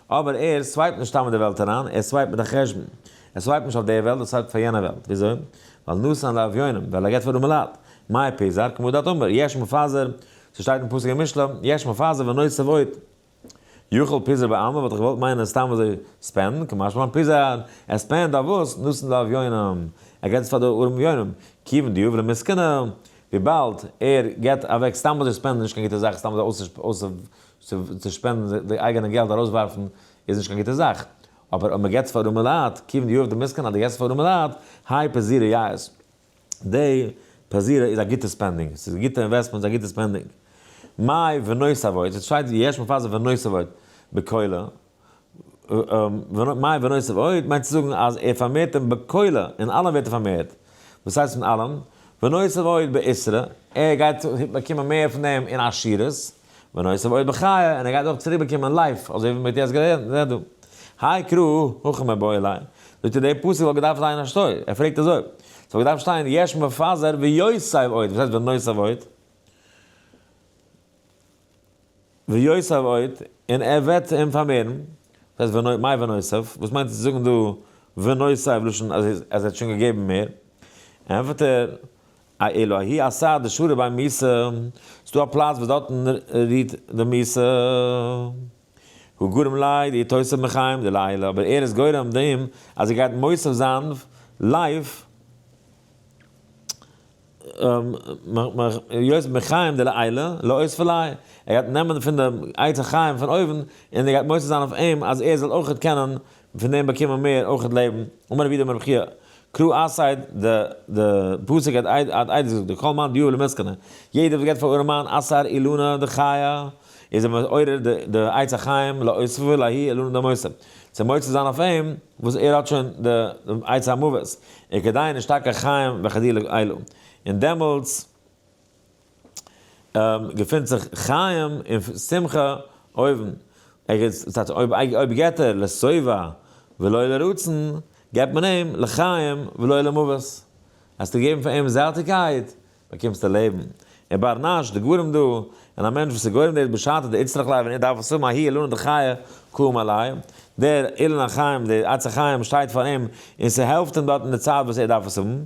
אבער ער סווייפט נישט סתם אין די וועלט אריין, ער סווייפט מיט א חשבון, ער סווייפט נישט אויף די וועלט, ער סווייפט פאר יענע וועלט, וויאזוי? ווייל נאסן די אביונים, ווייל ער גייט פאר אומעלאט, מאי פיזר, כמו דעת אמר, יש מפזר, ס'שטייט אין פסוק אין משלי, יש מפזר ונוסף עוד. יאכל פיזא בעלמא וואלט איך געוואלט מיינען סתם אזוי ספענדן, כמשל מיין פיזא ער ספענד אויף וואס? נוסן די אביונים, ער געט עס פאר די ארעם אביונים, כיוון די אברי מסכנא וויבאלד ער געט אוועק סתם אזוי ספענדן איז נישט קיין גוטע זאך סתם אזוי צו שפענדן די אייגענע געלט ארויסווארפן איז נישט קיין גוטע זאך, אבער אויב מען געט עס פאר ארעמע לייט, כיוון די אברי מסכנא אז די געסט עס פאר ארעמע לייט, הייפ איז זירא יעיס. די פאזירער איז א גוטע ספענדינג, ס'איז א גוטע אינוועסטמענט, ס'איז א גוטע ספענדינג. מאי ונוסף ועוד, ס'איז שטייט יש מפזר ונוסף ועוד בקולא, מאי ונוסף ועוד מיינט צו זאגן אז ער פארמערט אים בקולא, אין אלעם ווערט ער פארמערט, וואס הייסט אין אלעם? ונוסף ועוד באיסרא, ער גייט באקומען מער פון דעם אין עשירות, ונוסף עוד בחי', און ער גייט אויך צוריק באקומען לייף, אזוי ווי מ'האט יעצט גערעדט דא. האי קרא, הכא מבעי אלי', זאגט ער די פסוק וואלט געדארפט זיין אשתו, ער פרעגט אזוי, ס'וואלט געדארפט שטיין יש מפזר ויוסב עוד, וואס הייסט ונוסף עוד? ויוסב עוד, און ער וועט אים פארמערן, וואס הייסט מאי ונוסף? וואס מיינט צו זאגן דא ונוסף לשון אז ער האט שוין געגעבן מער? ענטפערט ער, א אילו הי' עשה די שורה ביי מס' איז דא א פלאץ וואס דארטן רוהט די מס' הוא גורם לייד איר תוסף מחיים די לילה אבער ער איז גורם דעם אז איר גייט מוסף זיין לייף יוסף מחיים די לילה לאות פלאי ער גייט נעמען פון די עצי חיים פון אויבן און ער גייט מוסף זיין אויף אים אז ער זאל אויכעט קענען און פון דעם באקומען מיר אויכעט לעבן, אמר רבי דמר בחייא, קרא א סייד, די די פסוק האט איידער געזאגט, דכל מאן דיובא למסקנא, יעדער וואס געבט פאר ארעם מאן א סר אילנא דחייא, איז ער מעורר די די עץ החיים להוספה להאי אילנא דמותו, צו מוציא זיין אויף אים וואס ער האט שוין די עץ המוות, וכדאי נישטקה חיים וכדילא אילו, און דעמאלטס. געפינט זיך חיים און שמחה אויבן. ער איז זייט אויב אויב געט ער לשובע ולא לרצון, געבט מען אים לחיים ולא למוות. האסטו געגעבן פאר אים זעטיקייט, באקומסטו לעבן. און בר נש, די גרים דא, און א מענטש וואס איז גורם דאס בשעתו די איצטרך לייב און ער דארף עס האבן אהי אילנא דחיי קאום עלי', דער אילן החיים די עצי חיים שטייט פאר אים און ס'העלפט אים דארט אין די צייט וואס ער דארף עס האבן,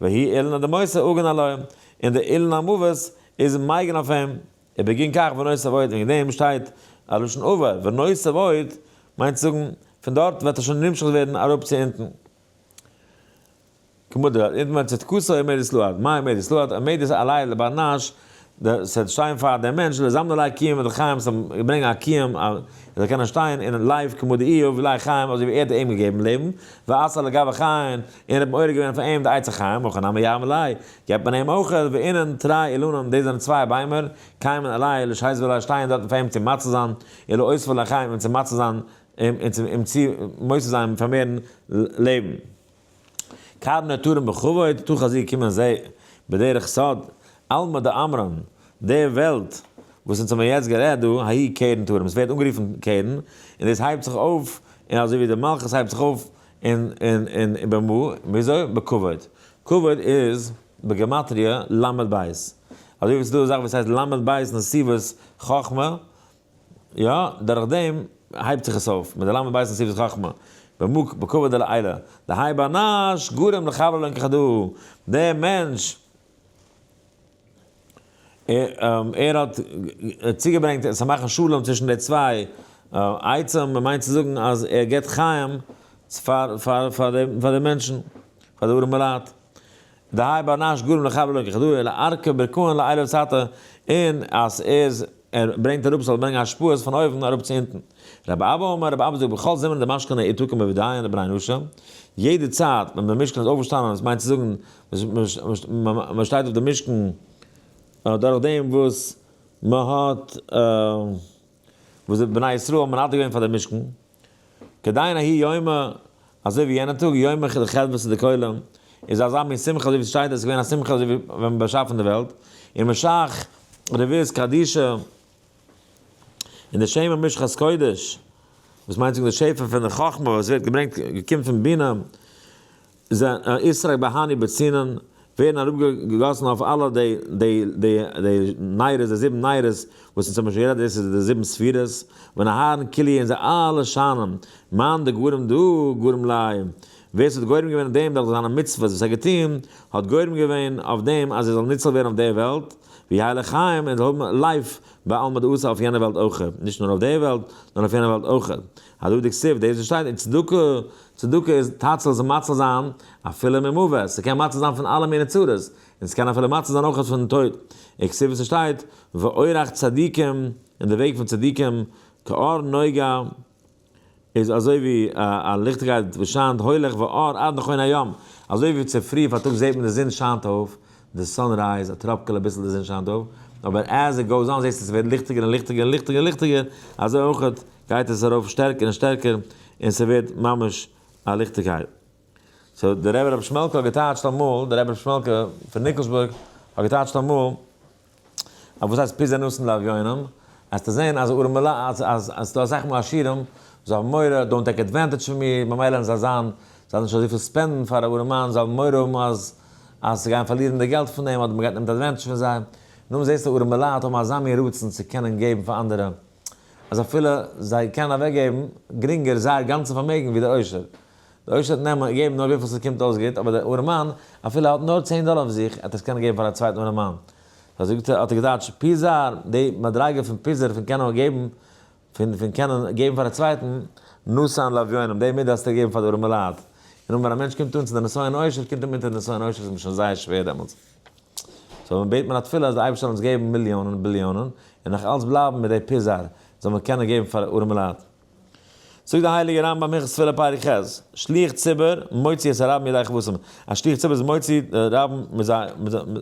והיא אילנא דמוסא אגן עליו, און די אילן המוות איז מייגן אויף אים, ער בגין כך ונוסף עוד, וועגן דעם שטייט א לשון עבר, ונוסף עוד מיינט צו זאגן, פון דארט וועט ער שוין נמשך ווערן אראפ צו אונטן. כמו דרא, אונטן ווען צדקתו עומדת לעד, מה עומדת לעד, עומדת עלי לבל נש, דאס וועט שטיין פאר דעם מענטש, לזמן עלי קיום און לחיים, ס'זאל אים ברענגען א קיום, ער זאל קענען שטיין און לייף כמו דאיוב ולי חיים, אזוי ווי ער האט אים געגעבן לעבן, ועשה לגביו חיים, און ער האט מעורר געווען אויף אים די עצה חיים, הכא נמי ירמלאי, געבט מען אים אוכל, ואינן תרי אילנן, דאס זענען צוויי ביימער, קיימען אלי' לשהיז ואלי' שטייען דארטן פאר אים צו מצא זיין, אילו אוספו לחיים אים צו מצא זיין, אים צו מוסיף זיין און פארמערן לעבן. קרבן נטורים בכבוד, תוך הזיע קומען זיי, בדרך סוד, עלמא דאמרן, די וועלט וואס אונז האבן יעצט גערעדט דא, האי קרן תורים, עס ווערט אנגערופן קרן, און דאס הייבט זיך אויף, און אזוי ווי די מלכות הייבט זיך אויף און און און במה? וויאזוי? בכבוד. כבוד איז בגמטריא ל' בית. אזוי ווי ס'איז דא א זאך וואס הייסט ל' בית נסיבות חכמה, יא, דורך דעם הייבט זיך עס אויף, מיט די ל' בית נסיבות חכמה. במה? בכבוד דלעילא. דהאי באנאש גורם לחבלה אין כדהוא. דער מענטש. ער האט צוגעברענגט עס זאל מאכן שלום צווישן די צוויי עצים, מען מיינט צו זאגן אז ער גיבט חיים פאר די מענטשן, פאר די ארעמע לייט. דהאי באנאש גורם לחבר לא ככדורי אלא ארכה ברכהן לאילה וצאתה, און אז ער איז ער ברענגט אראפ ס'זאל ברענגען השפעות פון אויבן אראפ צו אונטן. רבי אבא אומר, רבי אבא זאגט בכל זמן דמשכן העיר תוקם בוודאי און דברי נשה, יעדע צייט ווען דער משכן איז אויפגעשטאנען, עס מיינט צו זאגן מען שטייט אויף דעם משכן דורך דעם וואס מען האט, וואס די בני ישראל האבן מנדב געווען פאר דעם משכן. כדיין ההיא יומא, אזוי ווי יענע טאג, יומא כ ד חדוות צו די כוללים, איז אזא מין שמחה אזוי ווי ס'שטייט אז עס איז געווען א שמחה אזוי ווי ווען מ'האט באשאפן די וועלט, און משאכ רביעית קדישא, און די שמע משחת קודש, וואס מיינט צו זאגן די שפע פון די חכמה וואס ווערט געברענגט געקומט פון בינה, זענען איסרי בהני בצינן, ווערן אראפגעגאסן אויף אלע די די די די נייערעס, די זיבן נייערעס, וואס אונז האבן שוין גערעדט, דאס איז די זיבן ספירות, ווען אהרן כולי און זיי אלע שיינען, מאן דגורם דא גורם לאי, ווער ס'האט גורם געווען אויף דעם דורך זיינע מצוות וואס ער האט געטון, האט גורם געווען אויף דעם אז ער זאל ניצל ווערן אויף די וועלט, ויהיה לחיים, און זאל האבן לייף בעלמא דאתרא אויף יענע וועלט אויך, נישט נאר אויף די וועלט, נאר אויף יענע וועלט אויך. הדא דכתיב, דאס וואס שטייט אין צדקה, צדקה איז תצל זיך מציל זיין אפילו ממוות, ס'קען מציל זיין פון אלע מיני צרות, און ס'קען אפילו מציל זיין אויך פון טויט, און כסדר ווי ס'שטייט, ואורח צדיקים, און די וועג פון צדיקים, כאור נוגה, איז אזוי ווי א ליכטיגקייט וואס שיינט הוילעך ואור עד נכון היום, אזוי ווי צופרי פארטאגס זעט מען די זון שיינט אויף, די סאן רייז, א טראפקעלע ביסל די זון שיינט אויף, אבער עז איט גאוס אן זעסטו עס ווערט ליכטיגער און ליכטיגער און ליכטיגער און ליכטיגער, אזוי אויכעט גייט עס ארויף שטערקער און שטערקער און ס'ווערט ממש א ליכטיגקייט. סאו דער רבי רבי שמעלקא האט געטייטשט אמאל, דער רבי רבי שמעלקא פון ניקלשבורג האט געטייטשט אמאל, ט, וואס הייסט פיזר נאסן לאביונים? העסטו זען אז ארעמעלע, אז עס איז דא אסאך מאל עשירים וואס האבן מורא, דאונט טעיק עדווענטעדזש פון מיר, ממילא וועלן זיי זיין, זיי וועלן נישט אזויפיל ספענדן פאר א ארעמאן, זיי וועלן מורא האבן אז אז זיי גייען פארלירן די געלט פון אים, אדער מען גייט נעמט עדווענטעדזש פון זיי. נו, זעסטו ארעמעלע האבן אזא מין רצון צו קענען געבן פאר אנדערע, אז אפילו זיי קענען אוועקגעבן גרינגער זייער גאנצע פארמעגן ווי דער עושר. די עושר האט נעמען געבן נאר וויפיל ס'קומט אויס גוט, אבער דער ארעמאן, אפילו ער האט נאר צען דאלער אויף זיך, עט עס קענען געבן פאר א צווייטן ארעמאן. אזוי זאגט ער, האט ער געדייטשט, פיזר, די מדריגה פון פיזר פון קענען געבן, פון פון קענען געבן פאר א צווייטן, נשאן לאביונים, די מידה האסטו געגעבן פאר די ארעמע לייט. און אמער א מענטש קומט אן צו די נסיון עושר, קומט אים אונטער די נסיון עושר איז מיר שוין זייער שווער דעמאלטס. סאו ווען מ'בעט מיר א תפילה אז די אייבערשטער זאל אונז געבן מיליאנען, ביליאנען, און נאך אלץ בלייבן מיט די פיזר, זאל מען קענען געבן פאר ארעמע לייט. זאגט דער הייליגער רמב ם הלכות תפילה פרק ח', שליח ציבור מוציא את הרבים מידי כבותם, א שליח ציבור איז מוציא די רבים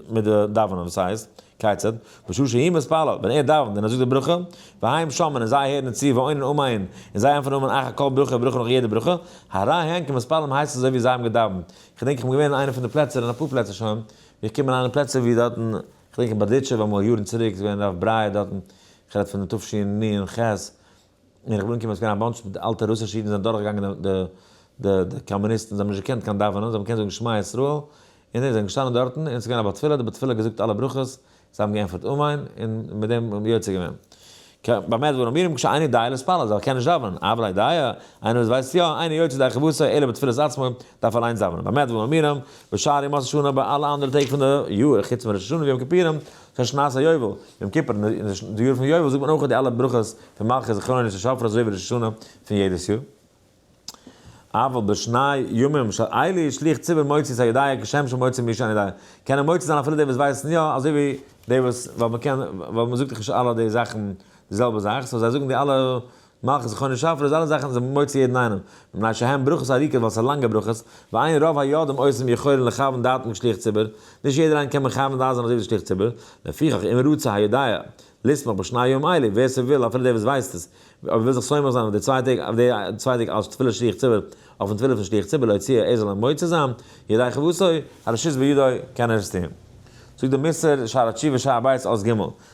מיט די דאווענען, וואס הייסט, כיצד, בשעה שהיא מתפללת, ווען ער דאווענט און ער זאגט די ברכה, והעם שומעין און זיי הערן צו, ועונין אמעין און זיי ענטפערן אמן אחר כל ברכה ברכה נאך יעדע ברכה, הרי הן כמתפללים הייסט אזוי ווי זיי האבן געדאווענט, כ'דענק איך בין געווען אין איינע פון די פלעצער אין אפאר פלעצער שוין, ווי איך קום אריין אין פלעצער ווי דארטן, כ'דענק אין בארדיטשוב אמאל יארן צוריק איז געווען הרב בריי דארטן, כ'רעד פון תשנ ח, ווען איך בין אנגעקומען איז געווען א באנטש מיט אלטע רוסישע אידן זענען דורך געגאנגען די די די קאמוניסטן זיי האבן נישט געקענט קיין דאווענען זיי האבן געקענט זאגן שמע ישראל און זיי זענען געשטאנען דארטן און עס איז געווען א בר תפילה די בר תפילה האט געזאגט אלע ברכות זיי האבן געענטפערט אמן און מיט דעם האבן יוצא געווען כ ב מזמור אמיר מקשה עיני דיעה להתפלל אז ער קען נישט דאווענען אבל אי דיעה איינער וואס ווייסט יא עיני יוצא די כבוש אלא בתפילת עצמו דארף אליינס דאווענען ביי מזמור אמיר בשערי מס' שנה ביי אלע אנדערע טעג פון די יאר חוץ פון ראש השנה ויום כיפורים פון שנת היובל, יום כיפור, און אין די יאר פון יובל זאגט מען אויך די אלע ברכות פון מלכי זכרון און שופר אזוי ווי ראש השנה פון יעדעס יאר. אבל בשני ימים של עלי' שליך ציבור מוציא את הידיעה כשם שמוציא מי שאין ידיעה, קענען מוציא זיין אפילו די וואס ווייסן יא אזוי ווי די וואס, ווייל מ'קען, ווייל מ'זאגט דאך נישט אלע די זאכן די זעלבע זאך, סאו זיי זאגן די אלע מאך זכרון שפר אז אלע זאכן זענען מוציא יעדן איינעם, מפני שהן ברכות ארוכות ווייל ס'זענען לאנגע ברכות, ועיין רוב הידים עושים יכולין לכוון דעתם כשליח ציבור, נישט יעדער איינער קען מכוון דעת זיין אזוי ווי דער שליח ציבור, לפיכך אם רוצה היודע לשמוח בשני היום האלה, ווער ס'וויל, אפילו דער וואס ווייסט עס, אויב ער וויל זיך שמח זיין אויף די צוויי טעג, אויף די צוויי טעג אלס תפילת שליח ציבור, אויפן תפילה פון שליח ציבור להוציא, ער זאל אים מוציא זיין, ידי חובתו, הרשות בידו, קען ער עס טון. זאגט דער מס' שער התשובה שער ב' אות ג',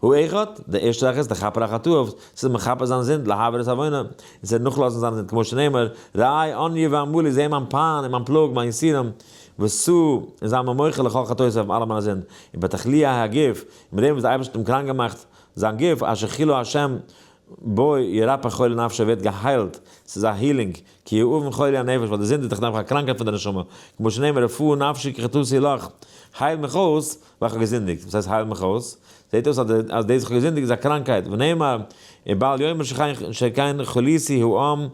הוא אחד, די ערשטע זאך איז לכפר על חטאיו, ס'איז מכפר זיין זינד להעביר את עוונו, און ס'וועט נאכלאזן זיין זינד כמו שנאמר, ראה עניי ועמלי זעה מיין פיין און מיין פלאג מיין יסורים, וסו, און זיי מיר מוחל לכל חטאותיי אויף אלע מיינע זינד, און בתחליא ע ה הגוף, און מיט דעם וואס די אייבערשטער האט אים קראנק געמאכט זיין גוף, אשר כילו השם בו ירפא חולי נפשו ווערט געהיילט, ס'איז א הילינג, כי הוא אבן חולי הנפש ווייל די זינד איז דאך נעבעך א קראנקהייט פון די נשמה, כמו שנאמר רפא נפשי כי חטאתי לך, הייל מיך אויס, ווען איך האב געזינדיגט, וואס הייסט הייל מיך אויס? זעט אויס אז דאס איך האב געזינדיגט איז א קראנקייט, ונאמר און בעל יאמר שכן חוליתי העם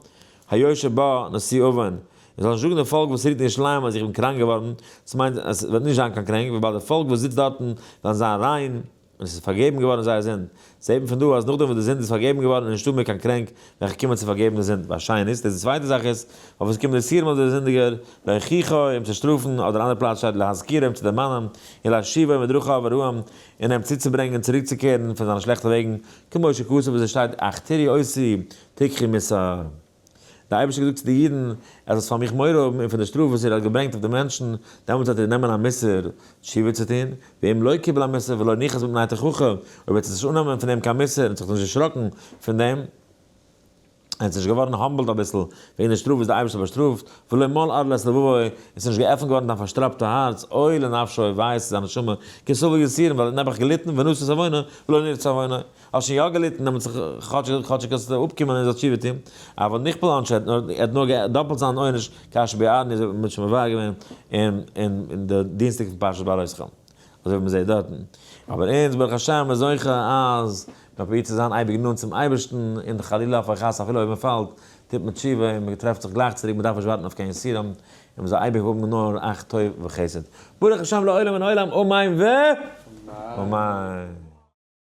היושב בה נשיא אבן, און זאל נישט זאגן די פאלק וואס רודט אין ירושלים אז איך בין קראנק געווארן, דאס מיינט אז עס וועט נישט זיין קיין קרענק, וויבאלד די פאלק וואס זיצט דארטן וועלן זיין ריין, און עס איז פארגעבן געווארן זייער זינד, זעט מען פון דא אז נאכדעם וואס די זינד איז פארגעבן געווארן איז נישטא מער קיין קרענק וועלכע קומען צו פארגעבן די זינד ביי שנית די צווייטע זאך איז אויב עס קומט די סירמא די זינדיגער להוכיחו אים צו שטראפן אדער אנדער פלאץ שטייט להזכירו אים צו דערמאנען און להשיבו מדרכיו הרעים און אים צוצוברענגען צוריקצוקערן פון זיינע שלעכטע וועגן כמו שכתוב ווי עס שטייט אכתרי עושי תיקחי מסור. דער אייבערשטער האט געזאגט צו די אידן, אז עס פאר מיך מורא האבן און פון די שטראף וואס איר האט געברענגט אויף די מענטשן, דעמאלטס זאלט איר נעמען א מוסר תשובה צו טון, ואם לא קיבל המוסר ולא ניחס מפני תוכחה, אויב וועט עטס נישט אננעמען פון אים קיין מוסר און זיך נישט דערשראקן פון דעם, און נישט געווארן האמבלד אביסל וועגן די שטראף וואס דער אייבערשטער באשטראפט, ולא מל עד לעת לבבו, און עס איז נישט געעפנט געווארן דיין פארשטראפטע הארץ, אוי לנפשו, וויי איז צו זיין נשמה, כי סבל יסיר, ווייל ער האט נעבעך געליטן, ונשא סביונה, ולא נרצה עוונה, האסט שוין יא געליטן דעמאלטס כאטשיג כאטשיג האסט די אפקומען און זאלסט תשובה טון, אבל נכפל עונשו ער האט נאר געהאט דאפלט זיין עונש כאשר ביעדן איז ער שוין מבאר געווען אין אין אין די דינסטאג פון פרשת בעלותך אזוי ווי מ'זעהט דארטן, אבער אונז ברוך השם איז זוכה אז מ'פרובירט צו זיין אייביג נאנט צום אייבערשטן און חלילה אויף א חס אפילו אויב מ'פאלט טוט מען תשובה און מ'טרעפט זיך גלייך צוריק מ'דארף נישט ווארטן אויף קיין יסורים און מ'זאל אייביג האבן נאר אך טוב וחסד ברוך השם לעולם אין עולם אמן ואמן.